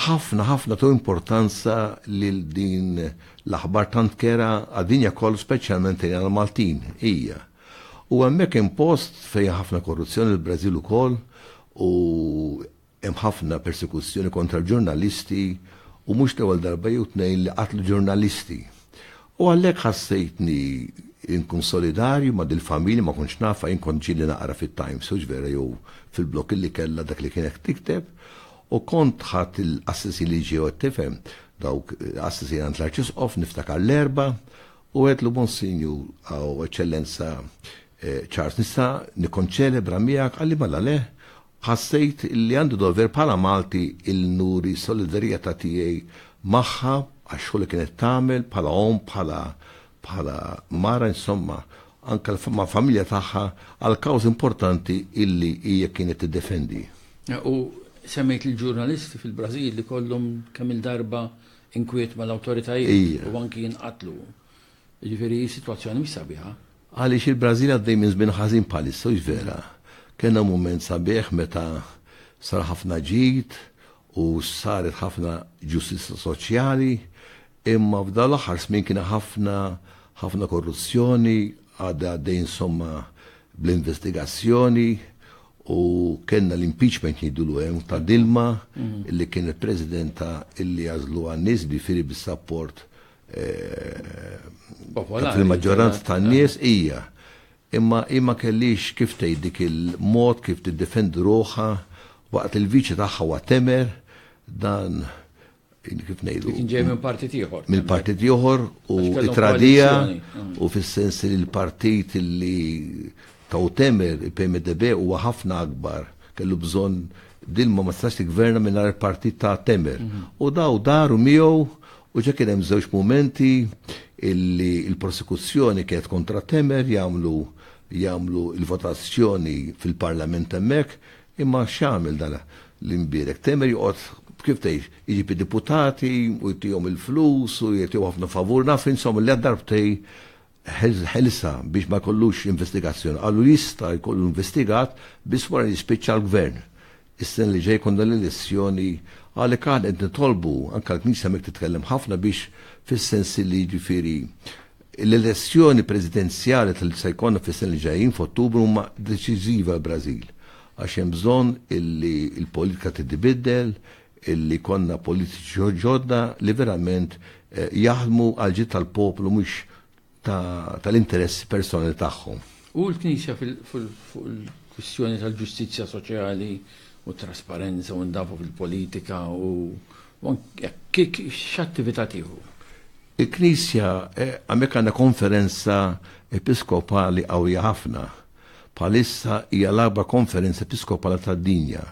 ħafna ħafna tu importanza lil din l-aħbar tant kera għad-dinja koll speċjalment għal Maltin hija. U hemmhekk impost fejn ħafna korruzzjoni l-Brażil ukoll u Hemm ħafna persekuzzjoni kontra l-ġurnalisti u mhux l-ewwel darba jew tnejn li qatlu ġurnalisti. U għalhekk ħassejtni nkun solidarju ma' dil-familja, ma kontx nafha, jien kont ġieli naqra fit-Times hux vera jew fil-blog li kellha dak li kienet tikteb u kont ħadt il-qassisin li ġew qed tifhem, dawk qassisin għand l-Arċisqof niftakar l-Erbgħa u għedtlu Monsinjur u Eċċellenza Charles nista' nikkonċelebra miegħek qalli mela le Ħassejt li għandi dover bħala Malti li nuri s-solidarjetà tiegħi magħha għax-xogħol li kienet tagħmel bħala omm, bħala bħala mara insomma, anke mal-familja tagħha għal kawżi importanti illi hija kienet tiddefendi. U semmejt il-ġurnalisti fil-Brażil li kollhom kemm-il darba inkwiet mal-awtoritajiet u anki jinqatlu. Jiġifieri s-sitwazzjoni mhix sabiħa. Għaliex il-Brażil għaddej minn żmien ħażin bħalissa, hux vera? Kellna mument sabiħ meta sar ħafna ġid u saret ħafna ġustizzja soċjali, imma f'dawn l-aħħar snin kien ħafna ħafna korruzzjoni, għadha għaddej insomma bl-investigazzjoni u kellna l-impeachment jgħidulu hemm ta' Dilma li kien il-Presidenta illi għażlu għan-nies bi firi bis-sapport eh, fil-maġġoranza tan-nies eh. hija imma imma kellix kif tgħid dik il-mod kif tiddefendi ruħha waqt il-viċi tagħha wa temer dan kif ngħidu. Kien ġej minn partit ieħor. Minn partit ieħor u tradija mm. u fis-sens li l-partit li taw temer il-PMDB huwa ħafna akbar kellu bżonn din ma ma tistax tigverna minn il-partit ta' temer. Mm-hmm. U daw daru miegħu U ġa kien hemm żewġ mumenti illi l-prosekuzzjoni kienet kontra Temer jagħmlu jagħmlu l-votazzjoni fil-Parlament hemmhekk, imma x'għamel dan l-imbierek? Temer joqgħod kif tgħid, iġib id-deputati u jtihom il-flus u jagħtihom ħafna favur, naf insomma li darbtej ħilsa biex ma jkollux investigazzjoni. Qalu li jista' jkollu investigat biss wara li jispiċċa l-Gvern. Is-sena li ġej jkollna l-elezzjoni għalhekk aħna qed nitolbu anke l-Knisja hemmhekk titkellem ħafna biex fis-sens li jiġifieri l-elezzjoni presidenzjali li se jkollna fis-sena li ġejjin f'Ottubru huma deċiżivi għall-Brażil għax hemm bżonn illi l-politika titbiddel, li jkollna politiċi ġodda li verament jaħdmu għall-ġid tal-poplu mhux tal-interessi personali tagħhom. U l-Knisja fuq il-kwistjoni tal-ġustizzja soċjali u t-trasparenza u n-nadafa fil-politika u x'attività tieħu? Il-Knisja, hemmhekk għandna konferenza episkopali qawwija ħafna. Bħalissa hija l-agħbar konferenza episkopali tad-dinja.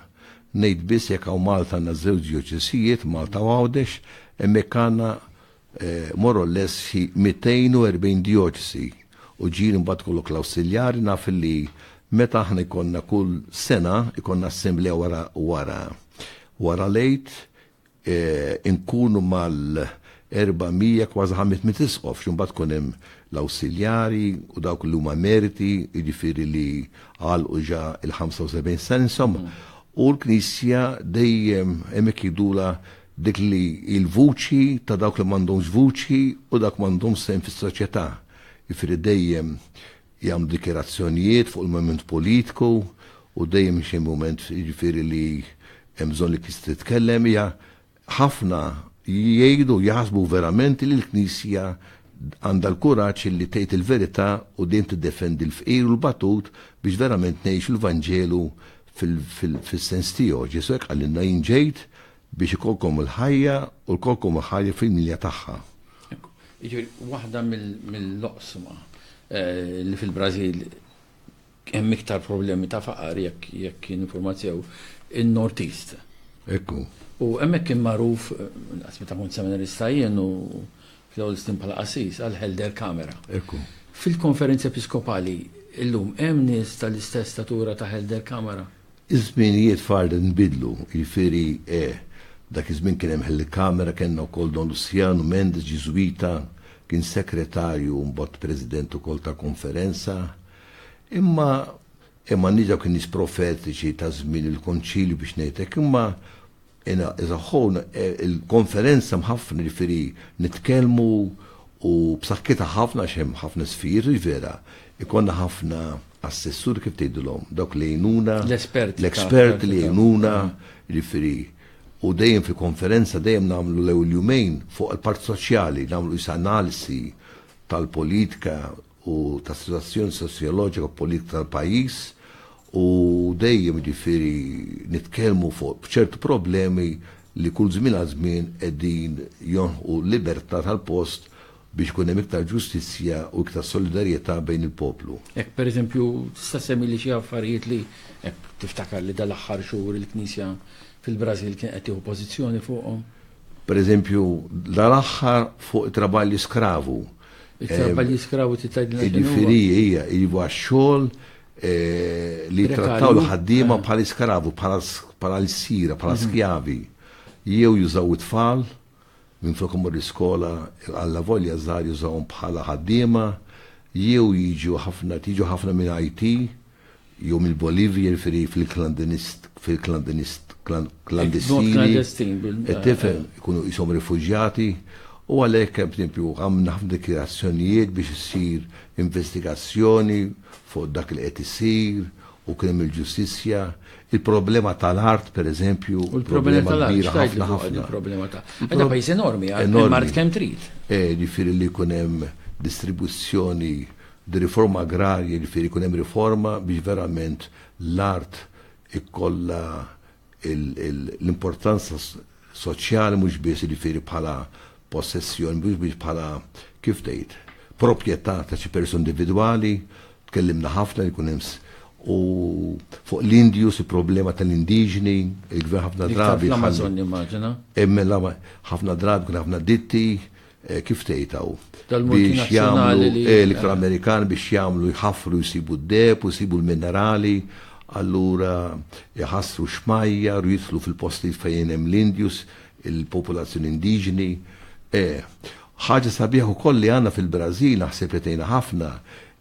Ngħid biss jekk hawn Malta għandna żewġ djoċesijiet, Malta u Għawdex, hemmhekk għandna more or less xi 240 djoċesi u ġieli mbagħad ikollok l-awsiljari naf li meta aħna jkollna kull sena jkollna assemblea wara wara wara l-Għid inkunu mal-400 kważi 500 isqof, xi mbagħad ikun hemm l-awsiljari u dawk li huma emeriti, jiġifieri li għalqu ġa l-75 sena, insomma. U l-Knisja dejjem hemmhekk jgħidulha dik li hi l-vuċi ta' dawk li m'għandhomx vuċi u dawk m'għandhomx sehem fis-soċjetà. Jiġifieri dejjem jagħmlu dikjarazzjonijiet fuq il-mument politiku u dejjem xi mument jiġifieri li hemm bżonn li knisja titkellem hija ħafna jgħidu u jaħsbu verament li l-Knisja għandha l-kuraġġ li tgħid il-verità u dejjem tiddefendi l-fqir u l-batut biex verament ngħixu l-Vanġelu fil-sens tiegħu. Ġesù hekk qalilna, jien ġejt Biex ikollkom il-ħajja u lkollkom il-ħajja fil-milja tagħha. Jiġifieri waħda mill-oqsma li fil-Brażil hemm iktar problemi ta' faqar jekk jien infurmat sew, in-Northeast. Ekku. U hemmhekk kien magħruf, naqas meta kont seminarista jien u fl-ewwel snin bħala qassis għal Helder Kamera. Ekku. Fil-konferenzi episkopali illum hemm nies tal-istess statura ta' Helder Kamera? Iż-żminijiet f'Arles inbidlu, jiġifieri, eh, dak iż-żmien kien hemm Hellikamera, kellna wkoll Don Luciano Mendes, Ġiżwita, kien Sekretarju u mbagħad President ukoll ta' Konferenza. Imma eh m'għandniex dawk in-nies profetiċi ta' żmien il-Konċilju biex ngħid hekk, imma Ena iżaħħun il-konferenza mħafna ġifiri nitkellmu u b'sakkita ħafna għax hemm ħafna sfir, vera, ikonna ħafna assessur kif tgħidilhom, dawk li jgħinuna, l-esperti li jgħinuna, ġifiri u dejjem fi konferenza dejjem nagħmlu l-ewwel jumejn fuq il-part soċjali, nagħmlu is-analisi tal-politika u ta' situazzjoni sosjoloġika u politika tal-pajjiż u dejjem ġifieri nitkellmu fuq ċertu problemi li kull żmien għal żmien qegħdin jonħu l-libertà tal-post biex ikun hemm iktar ġustizzja u iktar solidarjetà bejn il-poplu. Hekk pereżempju tista' semmi li xi affarijiet li hekk tiftakar li dal-aħħar xhur il-Knisja fil-Brażil kien qed tieħu pożizzjoni fuqhom. Pereżempju dal-aħħar fuq it-traballi skravu It-talba eh, li skravu titgħidilna x'inhu. Ġifieri hija iva x-xogħol eh, li trattaw l-ħaddiema eh. bħal iskaravu, bħala l-sira, bħala mhm. skjavi. Jew jużaw it-tfal, minn flok imur l-iskola għalla volja żgħar jużawhom bħala ħaddiema, jew jiġu ħafna tiġu ħafna minn IT, jew mill-Bolivja, jiġifieri fil-klandinist, fil-klandinist, klandestini. klandestin bil. Qed tifhem, ikunu qishom rifuġjati, u għalhekk hemm tempju għamilna ħafna dikjarazzjonijiet biex issir investigazzjoni fuq dak li qed isir u kien hemm il-ġustizzja. Il-problema tal-art, per eżempju, U l-problema problema tal-art, kbira xtajt li ħafna fuq ħafna. il-problema ta' Għadda pajjiż enormi, għal Enormi. mart kemm trid. Eh, Ġifieri li jkun hemm distribuzzjoni Di riforma agrarja jiġifieri jkun hemm riforma biex verament l-art ikollha l-importanza soċjali mhux biss jiġifieri bħala possessjoni, mhux biss bħala, kif tgħid, proprjetà ta' xi persuna individwali, tkellimna ħafna li jkun hemm u fuq l-Indius, il-problema tal-indiġni, il-gvern ħafna drabi. L-Amazon nimmaġina. Emmel ħafna drabi kun ħafna ditti, Eh, kif tgħid hawn? Biex jagħmlu eh, l-iktar eh. Amerikan biex jagħmlu jħaffru jsibu d-deb u jsibu l-minerali, allura jħassru xmajja, u jitlu fil-postijiet fejn hemm l-Indjus, il-popolazzjoni indiġni. Ħaġa sabiħ ukoll li għandna fil-Brażil naħseb li tgħinha ħafna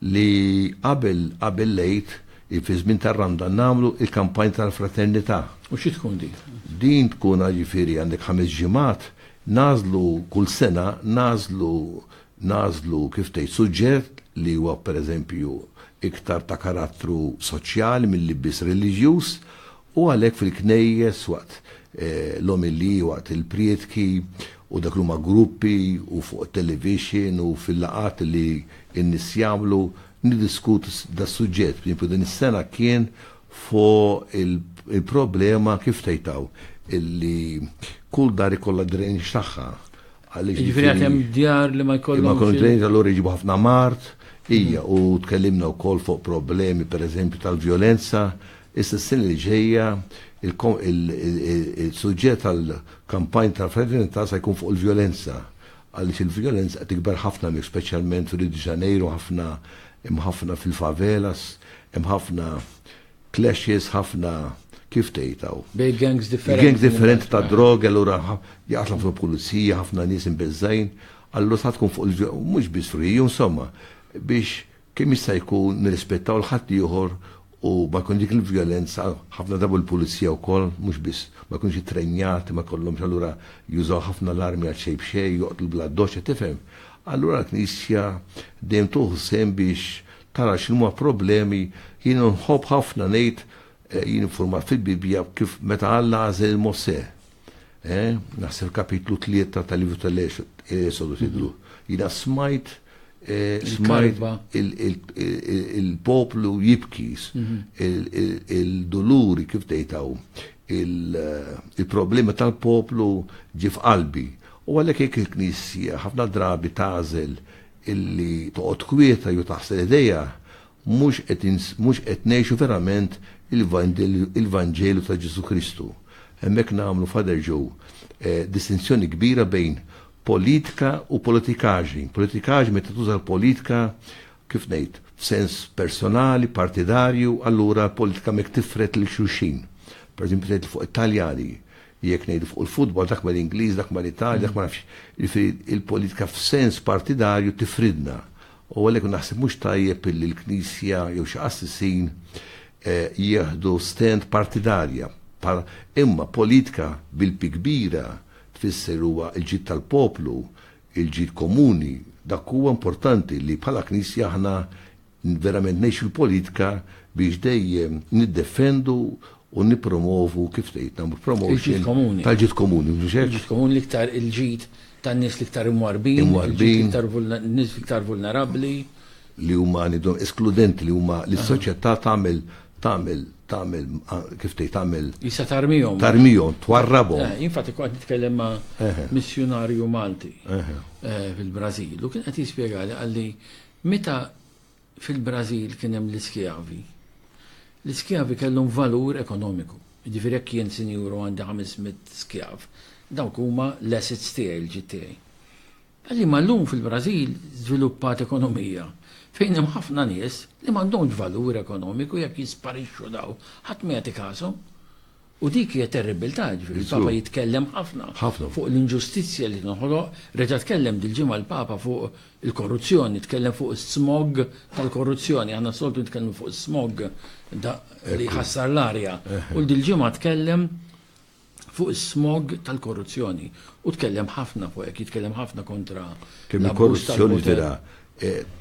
li qabel qabel lejt fi żmien tar-randa nagħmlu il-kampanja tal-fraternità. U xi tkun din? Din tkun ġifieri għandek ħames ġimgħat Nagħżlu kull sena, nagħżlu, nagħżlu kif tgħid suġġett li huwa pereżempju iktar ta' karattru soċjali milli biss reliġjuż u għalhekk fil-knejjes waqt l-omeliji, waqt il-prietki u dak li huma gruppi u fuq it-television u fil-laqgħat li n-nies jagħmlu niddiskutu da' suġġett. Pereżempju din is-sena kien fuq il-problema kif tgħidtaw illi kull dar ikollha drainage tagħha. Jiġifieri għad hemm djar li ma jkollhom. Ma jkollhom drainage allura jiġibu ħafna mart, hija u tkellimna wkoll fuq problemi pereżempju tal-vjolenza, issa s-sena li ġejja il-suġġett tal-kampanja tal-fraternità se jkun fuq il-vjolenza. għaliex il-vjolenza qed tikber ħafna hemmhekk speċjalment f'Rio de Janeiro ħafna hemm ħafna fil-favelas hemm ħafna clashes ħafna kif tgħid hawn? Bejn gangs differenti. Gangs differenti ta' droga allura jaqtlu fuq pulizija ħafna nies imbeżżajn allura sa tkun fuq il-ġo mhux biss Rio insomma biex kemm jista' jkun nirrispettaw l-ħaddieħor u ma jkunx dik il-vjolenza, ħafna drabi l-pulizija wkoll mhux biss ma jkunux ittrenjati, ma jkollhomx allura jużaw ħafna l-armi għal xejn b'xejn, joqtlu bla doċċa, tifhem? Allura l-Knisja dejjem tuħu sehem biex tara x'inhuma problemi, jien nħobb ħafna ngħid, jien iffurmat fil-Bibbja kif meta Alla għażel il-Mosè, Eh, naħseb kapitlu 3 tal-livru tal-esodu eh, tidlu. Jina smajt eh, smajt il-poplu jibkis, mhm. il-doluri kif tejtaw, il-problema tal-poplu ġif qalbi. U għalek jek il-knisja ħafna drabi tazel illi toqgħod kwieta ju taħsel ideja Mhux qed mhux qed ngħixu verament il-Vanġelu ta' Ġesù Kristu. Hemmhekk nagħmlu, Father Joe, distinzjoni kbira bejn politika u politikaġni. Politikaġni meta tuża l-politika, kif ngħid, f'sens personali, partidarju, allura l-politika hemmhekk tifred lil xulxin. Pereżempju tgħid fuq it-Taljani, jekk ngħidu fuq il-futbol, dak mal-Ingliż, dak mal-Italja, dak ma nafx. Jiġifieri l-politika f'sens partidarju tifridna. U għalhekk naħseb mhux tajjeb illi l-Knisja jew xi qassisin jieħdu stand partidarja, bħal, imma politika bil-P kbira tfisser huwa l-ġid tal-poplu, il-ġid komuni, dak huwa importanti li bħala Knisja aħna verament ngħixu l-politika biex dejjem niddefendu u nippromovu kif tgħid nagħmlu promotion tal-ġid komuni, mhux hekk? Il-ġid komuni l-iktar il-ġid tan-nies l-iktar imwarrbin, il-ġid l-iktar nies l-iktar vulnerabbli, li huma nidhom eskludenti li huma li s-soċjetà tagħmel tagħmel tagħmel kif tgħid tagħmel jista' tarmihom tarmihom twarrabhom. Eh, infatti kont nitkellem ma' missjunarju Malti eh, fil-Brażil u kien qed jispjegali għalli meta Fil-Brażil kien hemm l-iskjavi. L-iskjavi kellhom valur ekonomiku. Jiġifieri jekk jien sinjur u għandi ħames mitt skjav, dawk huma l-assets tiegħi, l-ġid tiegħi. Liema llum fil-Brażil żviluppat ekonomija fejn hemm ħafna nies li m'għandhomx valur ekonomiku jekk jisparixxu dawn ħadd ma jagħti kashom. U dik hija terribiltà, jiġifieri l-Papa jitkellem ħafna fuq l-inġustizzja li tinħoloq, reġa' tkellem dil-ġimgħa l-Papa fuq il-korruzzjoni, tkellem fuq is-smog tal-korruzzjoni, aħna s-soltu nitkellmu fuq is-smog li jħassar l-arja, u dil-ġimgħa tkellem fuq is-smog tal-korruzzjoni u tkellem ħafna fuq hekk, jitkellem ħafna kontra l-abbuż tal-poter. Kemm il-korruzzjoni vera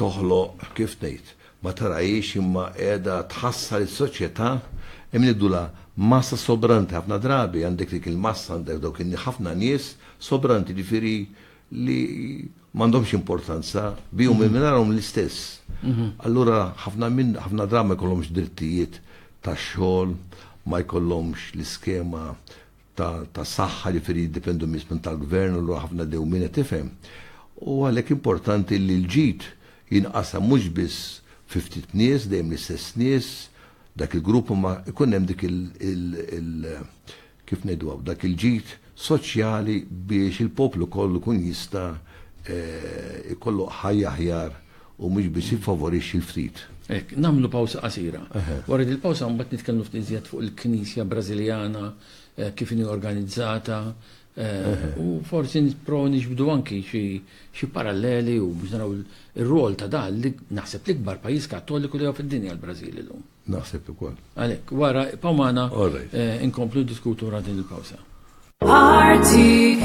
toħloq kif ngħid Ma tarahiex imma qiegħda tħassar is-soċjetà imma ngħidulha massa sobranti ħafna drabi għandek dik il-massa għandek dawk in ħafna nies sobranti ġifieri li m'għandhomx importanza bihom u mingħajrhom l-istess. Allura ħafna minn ħafna drabi ma jkollhomx drittijiet tax-xogħol, ma jkollhomx l-iskema ta' ta' saħħa ġifieri jiddependu biss minn tal-gvern u lura ħafna dewmien qed tifhem. U għalhekk importanti li l-ġid jinqasam mhux biss fi ftit nies, dejjem l-istess nies, dak il-grupp imma jkun hemm dik il, il, il kif ngħiduha, dak il-ġid soċjali biex il-poplu kollu jkun jista' eh, ikollu ħajja aħjar u mhux biss jiffavorixxi l-ftit. Hekk, nagħmlu pawsa qasira. Wara din il-pawsa mbagħad nitkellmu ftit iżjed fuq il-Knisja Brażiljana, kif inhi organizzata, u forsi nipprovaw niġbdu anki xi paralleli u biex naraw ir-rwol ta' dan li naħseb l-ikbar pajjiż Kattoliku li hawn fid-dinja l-Brażil illum. Naħseb ukoll. Għalhekk, wara ibqgħu magħna inkomplu niddiskutu wara din il-pawsa. RTK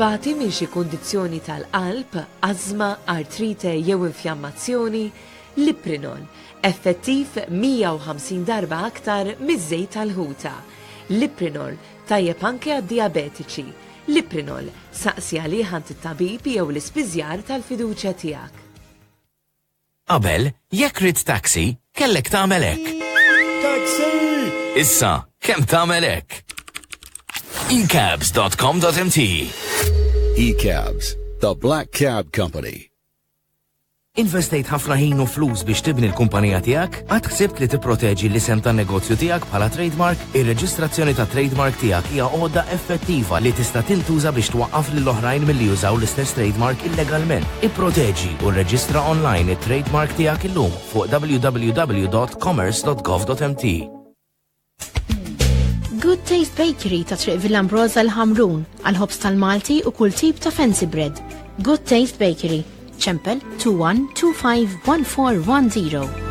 Tbati minn xi kundizzjoni tal-qalb, ażma, artrite jew infjammazzjoni? Liprinol, effettiv 150 darba aktar miż-żejt tal-ħuta. Liprinol, tajjeb anke għad-dijabetiċi. Liprinol, saqsi għalih għand it-tabib jew l-ispiżjar tal-fiduċja tiegħek. Qabel, jekk ridt taxi, kellek tagħmel hekk. Taxi! Issa, kemm tagħmel hekk? ecabs.com.mt Ecabs, the Black Cab Company. Investejt ħafna ħin u flus biex tibni l-kumpanija tiegħek? Għad ħsibt li tipproteġi l-isem tan-negozju tiegħek bħala trademark? Ir-reġistrazzjoni tat-trade mark tiegħek hija għodda effettiva li tista' tintuża biex twaqqaf lil oħrajn milli jużaw l-istess trade mark illegalment. Ipproteġi u rreġistra online it-trade mark tiegħek illum fuq www.commerce.gov.mt. Good Taste Bakery ta' Triq Villambroza l-Ħamrun, għal-ħobs tal-Malti u kull tip ta' fancy bread. Good Taste Bakery, ċempel 21251410.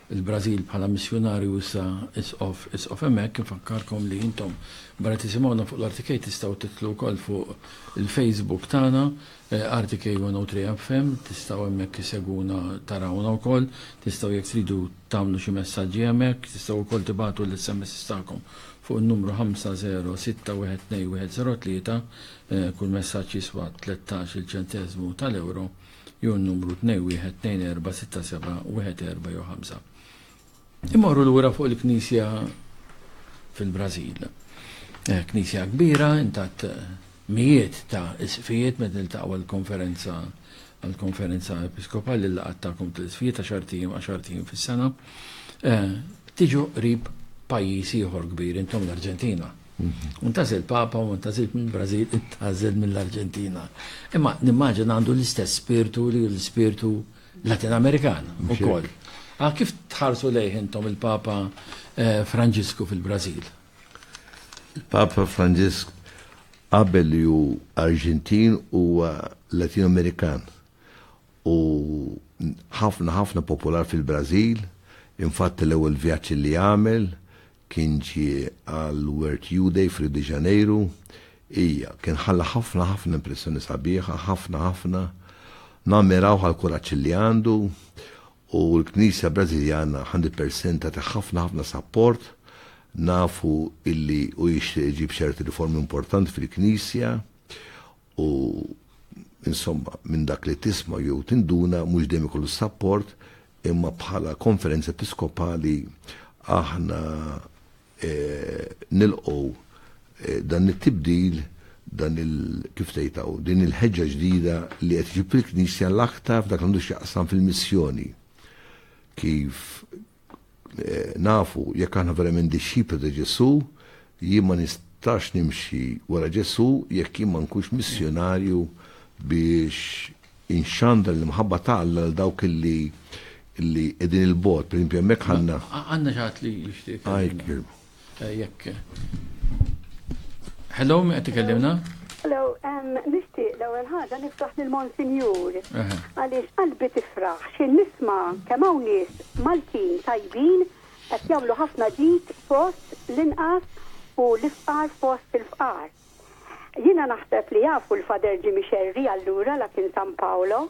il-Brażil bħala missjunarju issa Isqof Isqof hemmhekk infakkarkom li intom barra tisimgħuna fuq l-RTK tistgħu tidħlu wkoll fuq il-Facebook tagħna RTK 103 FM tistgħu hemmhekk isegwuna tarawna wkoll tistgħu jekk tridu tagħmlu xi messaġġi hemmhekk tistgħu wkoll tibagħtu l-SMSs tagħkom fuq in-numru 50612103 kull messaġġ jiswa 13 il-ċenteżmu tal-ewro. jew n-numru 2 wieħed tnejn erba' sitta seba' wieħed erba' jew ħamsa. Immorru lura fuq il-knisja fil-Brażil. Eh, knisja kbira, intat mijiet ta' isqfijiet meta niltaqgħu għall-konferenza għall-konferenza episkopali li qatt tagħkom tal-isqfijiet għax artijiem għax artijiem fis-sena. Eh, tiġu qrib pajjiż ieħor kbir intom l-Arġentina. U ntażel papa u ntażilt mill-Brażil, intażel mill-Arġentina. Imma nimmaġina għandu l-istess spirtu li l-spirtu Latin Amerikan ukoll. Ah, kif tħarsu lejh intom il-Papa eh, Franġisku fil-Brażil? Il-Papa Franġisk qabel li hu Arġentin huwa Latin Amerikan u ħafna ħafna popolar fil-Brażil, infatti l-ewwel vjaġġ li għamel kien ġie għal Word U Day f'Rio de Janeiro, ija, kien ħalla ħafna ħafna impressjoni sabiħa, ħafna ħafna, nammirawh għall-kuraġġ li għandu, u l-Knisja Brażiljana 100% tagħti ħafna ħafna sapport, nafu illi u jixtieq iġib ċerti riformi importanti fil-Knisja, U insomma, minn dak li tisma' jew tinduna mhux dejjem ikollu sapport imma bħala konferenza episkopali aħna e, nilqgħu e, dan it-tibdil dan il kif tgħidaw din il-ħeġġa ġdida li qed jiġi fil-Knisja l-aktar f'dak għandu x'jaqsam fil-missjoni kif Nafu jekk aħna verament dixxipli ta' Ġesù, jien ma nistax nimxi wara Ġesù jekk jien ma nkunx missjunarju biex inxandar l-imħabba ta' Alla għal dawk li li qegħdin 'il bogħod. Pereżempju hemmhekk ħanna. Għandna xi ħadd li jixtieq jitkellem. Eh, jekk. Hello, mi qed ikellimna? Hello, nixtieq l-ewwel ħaġa nifraħ lil Monsinjur. Għaliex qalbi tifraħ xi nisma' kemm hawn nies Maltin tajbin qed jagħmlu ħafna ġid fost l-inqas u l-ifqar fost il-fqar. Jina naħseb li jafu l-fader ġimi xerri allura la kien San Paolo.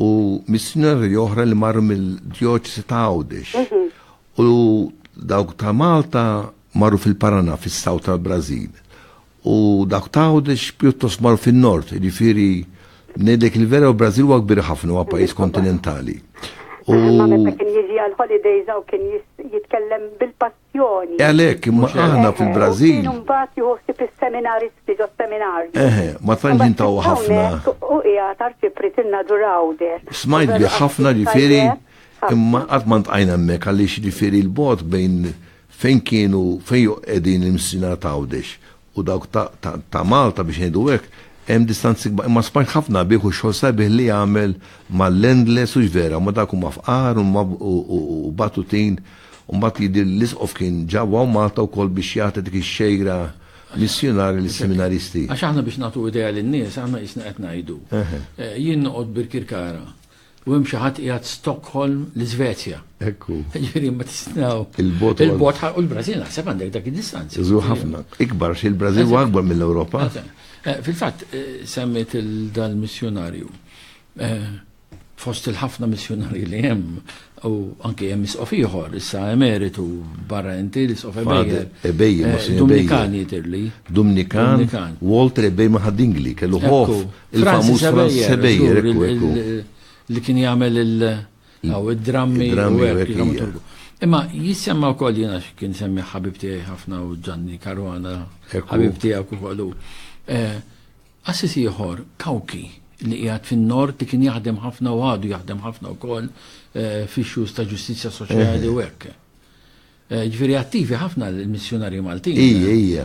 u missjunarji oħra li marru mill-djoċesi ta' Għawdex mhm. u dawk ta' Malta marru fil-Paraná fis-South tal-Brażil u dawk ta' Għawdex pjuttost marru fin-Nord, jiġifieri ngħidlek il-vera u Brażil huwa kbir ħafna huwa pajjiż kontinentali. U meta kien jiġi għal holidays u kien jitkellem bil-pass l-edukazzjoni. Għalhekk, imma aħna fil-Brażil. Kienu mbagħad jieħu ħsieb is-seminaristi ġos-seminarju. Eħe, ma tantx jintaw ħafna. U hija tarċipri tinna durawde. Smajt bi ħafna ġifieri imma qatt ma ntqajna hemmhekk għaliex ġifieri l-bot bejn fejn kienu fejn qegħdin il-msina tawdex u dawk ta' ta' ta' Malta biex ngħidu hekk, hemm distanzi kbar. Imma smajt ħafna bih u x-xogħol sabiħ li jagħmel mal-landless u x'vera, ma dawk huma fqar u ma u u u batutin. U mbagħad jidhirli l-Isqof kien ġa hawn Malta wkoll biex jagħti dik ix-xejra missjunarja lis-seminaristi. Għax aħna biex nagħtu idea lin-nies, aħna qisna qed ngħidu. Eħe. Jien noqgħod Birkirkara, U hemm xi ħadd qiegħed Stockholm l-Iżvezja. Ekku. Ġifieri ma tisnaw. Il-bot. Il-bot u l-Brażil naħseb għandek dak id-distanza. Iżu ħafna. Ikbar xi l-Brażil u akbar mill-Ewropa. Eh, fil-fatt eh, semmiet il-dal-missjonarju. Eh, fost il-ħafna missjonarji li hemm u anke hemm isqof ieħor, issa emeritu barra inti l-isqof Ebejjer. Ebejjer, Dominikani tirli. Dominikan, Walter Ebejjer ma' kellu ħof Il-famuż Franz Sebejer, ekku, ekku. Li kien jagħmel il-drammi u Imma jissemma u koll jena kien semmi ħabib tijaj ħafna u ġanni karwana, ħabib tijaj u kollu. Eh, Assis ieħor kawki li qiegħed fin-nord li kien jaħdem ħafna u għadu jaħdem ħafna wkoll eh, fi xhus ta' ġustizzja soċjali u hekk. Ġviri attivi ħafna l-missjonarji Maltin. Ija, ija.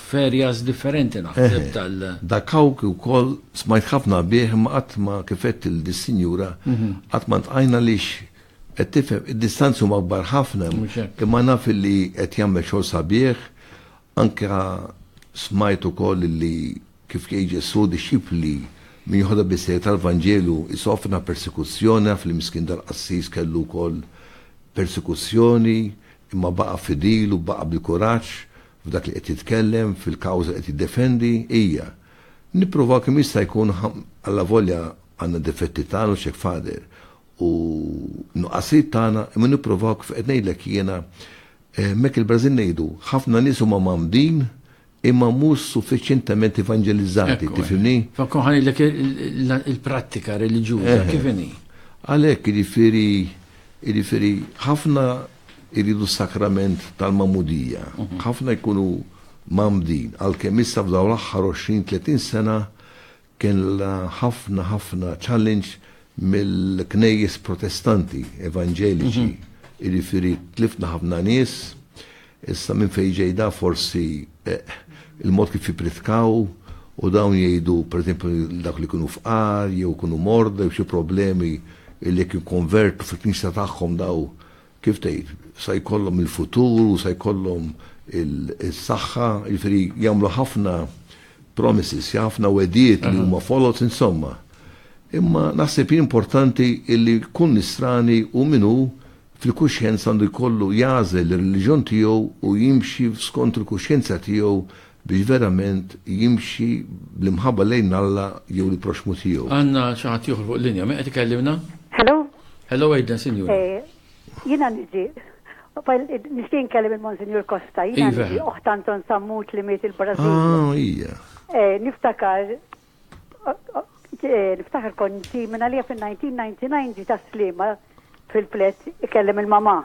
F'areas differenti naħseb tal. Dak kawk ukoll smajt ħafna bih imma qatt ma kifet il dis-sinjura qatt ma ntqajna lix qed tifhem id-distanzi huma kbar ħafna imma naf li qed jagħmel xogħol sabiħ Anke smajt ukoll li kif jgħid Ġesù dixxipli min joħodha bis-serjetà tal-Vanġelu jsofna persekuzzjoni, naf li miskin dal-qassis kellu wkoll persekuzzjoni imma baqa' fidil u baqa' bil-kuraġġ f'dak li qed jitkellem, fil-kawża li qed jiddefendi, hija. Nippruvaw kemm jista' jkun allavolja għandna d-difetti tagħna u x'hekk f'għader u nuqqasijiet tagħna imma nippruvaw kif qed ngħidlek jiena Hemmhekk il-Brażil ngħidu, ħafna nies huma mgħammdin imma mhux suffiċjentement evanġelizzati, tifhimni? Fa' nkun ħa ngħidlek il-prattika reliġjuża kif inhi. Għalhekk, jiġifieri, jiġifieri ħafna jridu s-sakrament tal-magħmudija, ħafna jkunu mgħammdin, għalkemm issa f'dawn l-aħħar 20, 30 sena Kellha ħafna ħafna challenge mill-knejjes Protestanti, Evanġeliċi, jiġifieri tlifna ħafna nies, issa minn fejn ġej da forsi il-mod kif jippritkaw u dawn jgħidu pereżempju dak li jkunu fqar jew ikunu morda jew xi problemi li jekk jikkonvertu fil-knisja tagħhom daw kif tgħid, sa jkollhom il-futur u sa jkollhom is-saħħa, jiġifieri jagħmlu ħafna promises, ħafna wedijiet li huma foloz insomma. Imma naħseb importanti illi kull nisrani u minnu fil-kuxjenza għandu jkollu jażel ir-reliġjon tiegħu u jimxi skont il-kuxjenza tiegħu biex verament jimxi bl-imħabba lejn Alla jew il-proxxmu tiegħu. Għandna xi ħadd ieħor fuq l-linja, min qed ikellimna? Hello? Hello Aidan, sinjura. Jiena niġi nixtieq nkellem il-Monsinjur Costa, jiena niġi oħt Anton Sammut li miet il-Brażil. Ah, hija. Niftakar Niftaħar konti minna li fin-1999 ġi ta' slima fil-flet ikellem il-mama.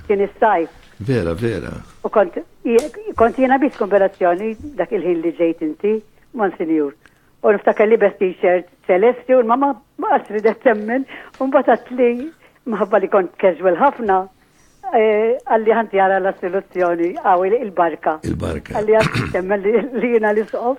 Kien is-sajf. Vera, vera. U kont, kont jena bis konverazzjoni dak il-ħin li ġejt inti, man sinjur. U niftakar li bes t-shirt ċelesti u l-mama ma qasri da temmen, un batat li maħabba li kont casual ħafna, eh, għalli ħanti għara la soluzzjoni, għaw il-barka. Il-barka. Għalli għanti temmen li jena l-isqof.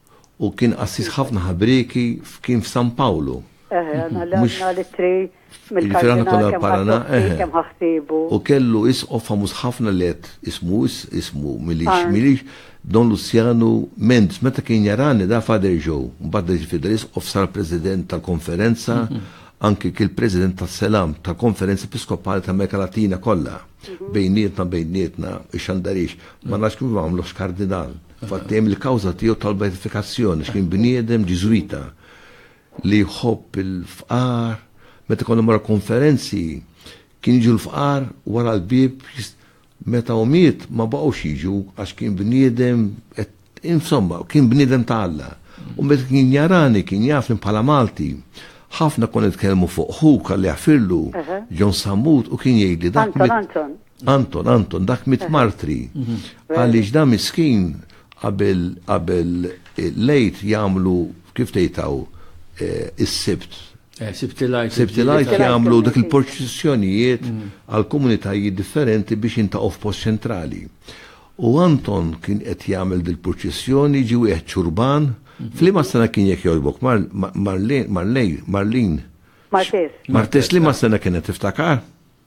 U kien qassis ħafna ħabrieki f'kien f'San Pawlu. Eħe, għandna l Mhux għandna l-ittri Jiġifieri aħna konna mill-Kardinal kemm l-Parana, ħassok fih, eħe. kemm ħa ħsiebu. U kellu isqof famuż ħafna li qed ismu is, ismu m'ilix, Arndt. m'ilix, Don Luzzjanu Mendes. Meta kien jarani da Father Joe. Mbagħad reġa' fidel isqof sar President tal-Konferenza, anki kien President tas-Selam tal-Konferenza Episkopali tal-Amerika Latina kollha. Bejnietna, bejnietna, ix-xandarix. Ma nafx kif għamluh x'Kardinal. Fattem il-kawża tiegħu tal-beatifikazzjoni x'kien bniedem Ġiżwita li jħobb il-fqar meta konna mara konferenzi kien jiġu l-fqar wara l-bieb meta u miet ma baqgħux jiġu għax kien bniedem insomma kien bniedem ta' Alla. U meta kien jarani kien jafni bħala Malti ħafna kon nitkellmu fuq ħu kalli għafirlu John Sammut u kien jgħidli dak. Anton, Anton, Anton, Anton, dak mit martri. Mhm. Għaliex da miskin qabel qabel eh, lejt jagħmlu kif tgħidtaw eh, is-sibt. Eh, Sibtilajt. Sibtilajt jagħmlu dak il-proċessjonijiet mhm. għal komunitajiet differenti biex jintaqgħu f'post ċentrali. U Anton kien qed jagħmel dil-proċessjoni ġi wieħed ċurban. Mhm. Flima sena kien jekk jogħġbok Marlin, Marlin. Martes. Martes li ma sena kienet tiftakar?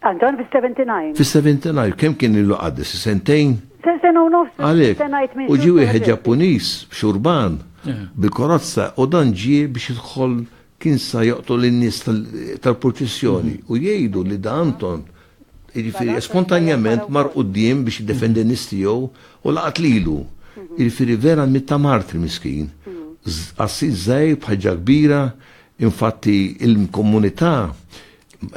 Għal dan fis-seventy nine. Fis-seventy nine, kemm kien ilu qaddis? Sentejn? Se sena u nofs. Għalhekk. Se ngħid minn xhur. U ġie wieħed Ġappuniż b'xurban bil-korazza u dan ġie biex jidħol kien sa joqtol in-nies tal-purċissjoni u jgħidu li Da Anton jiġifieri spontanjament mar quddiem biex jiddefendi n-nies tiegħu u laqat lilu. Jiġifieri vera miet ta' martri miskin. Qassis żgħir b'ħaġġa kbira, infatti il-komunità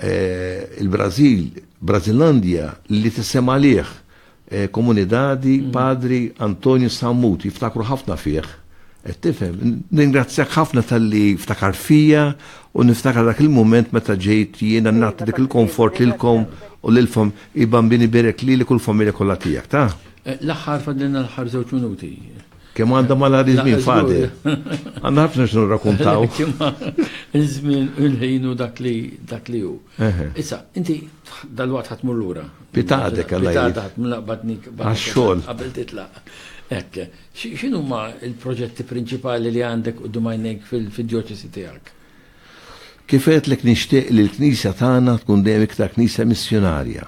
Eh, il-Brazil, Brazilandia, li tissem għalih eh, komunidadi mm. padri Antonio Sammut, jiftakru ħafna fih. Eh, tifhem, ningrazzjak ħafna tal-li ftakar fija u niftakar dak il-moment meta ġejt jiena nagħti dik il-komfort lilkom u lilfom i bambini berek li li kull familja kollha tiegħek, ta? L-aħħar fadlina l-aħħar żewġ minuti. Kemm għandha malari żmien fadel. Għandna ħafna x'nu rrakkuntaw. Iż-żmien u l-ħin u dak li dak li hu. Issa, inti dal-waqt ħadd mur lura. Pitadek għal Pitadek ħadd mlaqbadnik għax-xogħol. Qabel titlaq. Ekk, x'inhu ma l-proġetti prinċipali li għandek u dumajnek fil-djoċesi tiegħek? Kifet li nixtieq li l-Knisja tagħna tkun dejjem iktar Knisja missjonarja.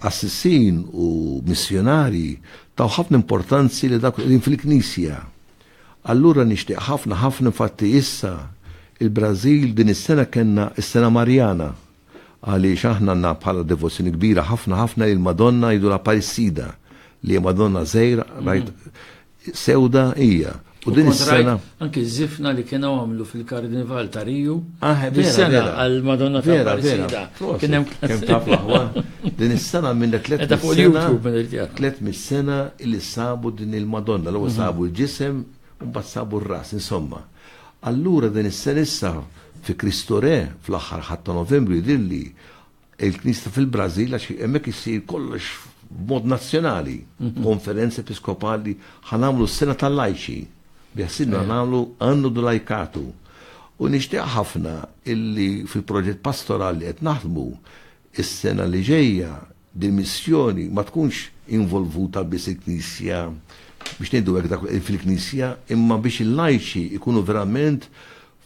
qassisin u missjonarji taw ħafna importanzi li dak qegħdin fil-Knisja. Allura nixtieq ħafna ħafna infatti issa il-Brażil din is-sena kellna s-sena Marjana għaliex aħna għandna bħala devozzjoni kbira ħafna ħafna il-Madonna jidula Parisida li Madonna żejra rajt sewda hija. U din is-sena. Anki żifna li kienu għamlu fil-Karnival ta' Riju. Ah, is-sena għal Madonna ta' Vera, vera. Kien hemm kemm taf aħwa. Din is-sena minn tliet sena. Tliet mis-sena li sabu din il-Madonna, l mhm. sabu l-ġisem u mbagħad sabu r-ras, insomma. Allura din is-sena issa fi Kristore fl-aħħar ħadd ta' Novembru jidilli Il-Knisja fil-Brażil għax hemmhekk issir kollox b'mod nazzjonali. Konferenza Episkopali ħa nagħmlu s-sena tal-lajċi. Biħsibna nagħmlu anno do laicato. U nixtieq ħafna illi fil-proġett pastorali li qed naħdmu is-sena li ġejja dil-missjoni ma tkunx involvuta biss il-Knisja biex ngħidu hekk dak fil-Knisja imma biex il-lajċi jkunu verament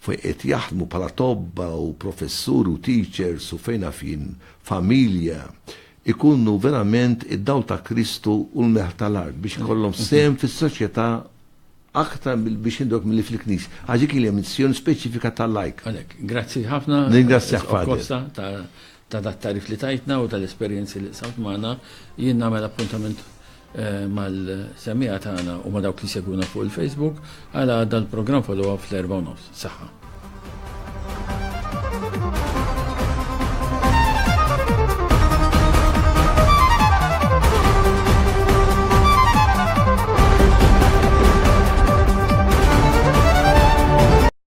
fejn qed jaħdmu bħala tobba u professuri u teachers u fejn naf jien familja, ikunu verament id-dawl ta' Kristu u l-melħ tal-art biex ikollhom sehem fis-soċjetà aktar biex indok mill fil-knis. Għax dik hija missjoni speċifika tal-lajk. Għalek, grazzi ħafna. Ningrazzjak Fader. Ta' dat-tagħrif li tajtna u tal-esperjenzi li qsamt magħna, jien nagħmel appuntament mal-semmiegħa tagħna u ma' dawk li jsegwuna fuq il-Facebook għal għada l-programm Follow Up fl-erbgħa u nofs. Saħħa!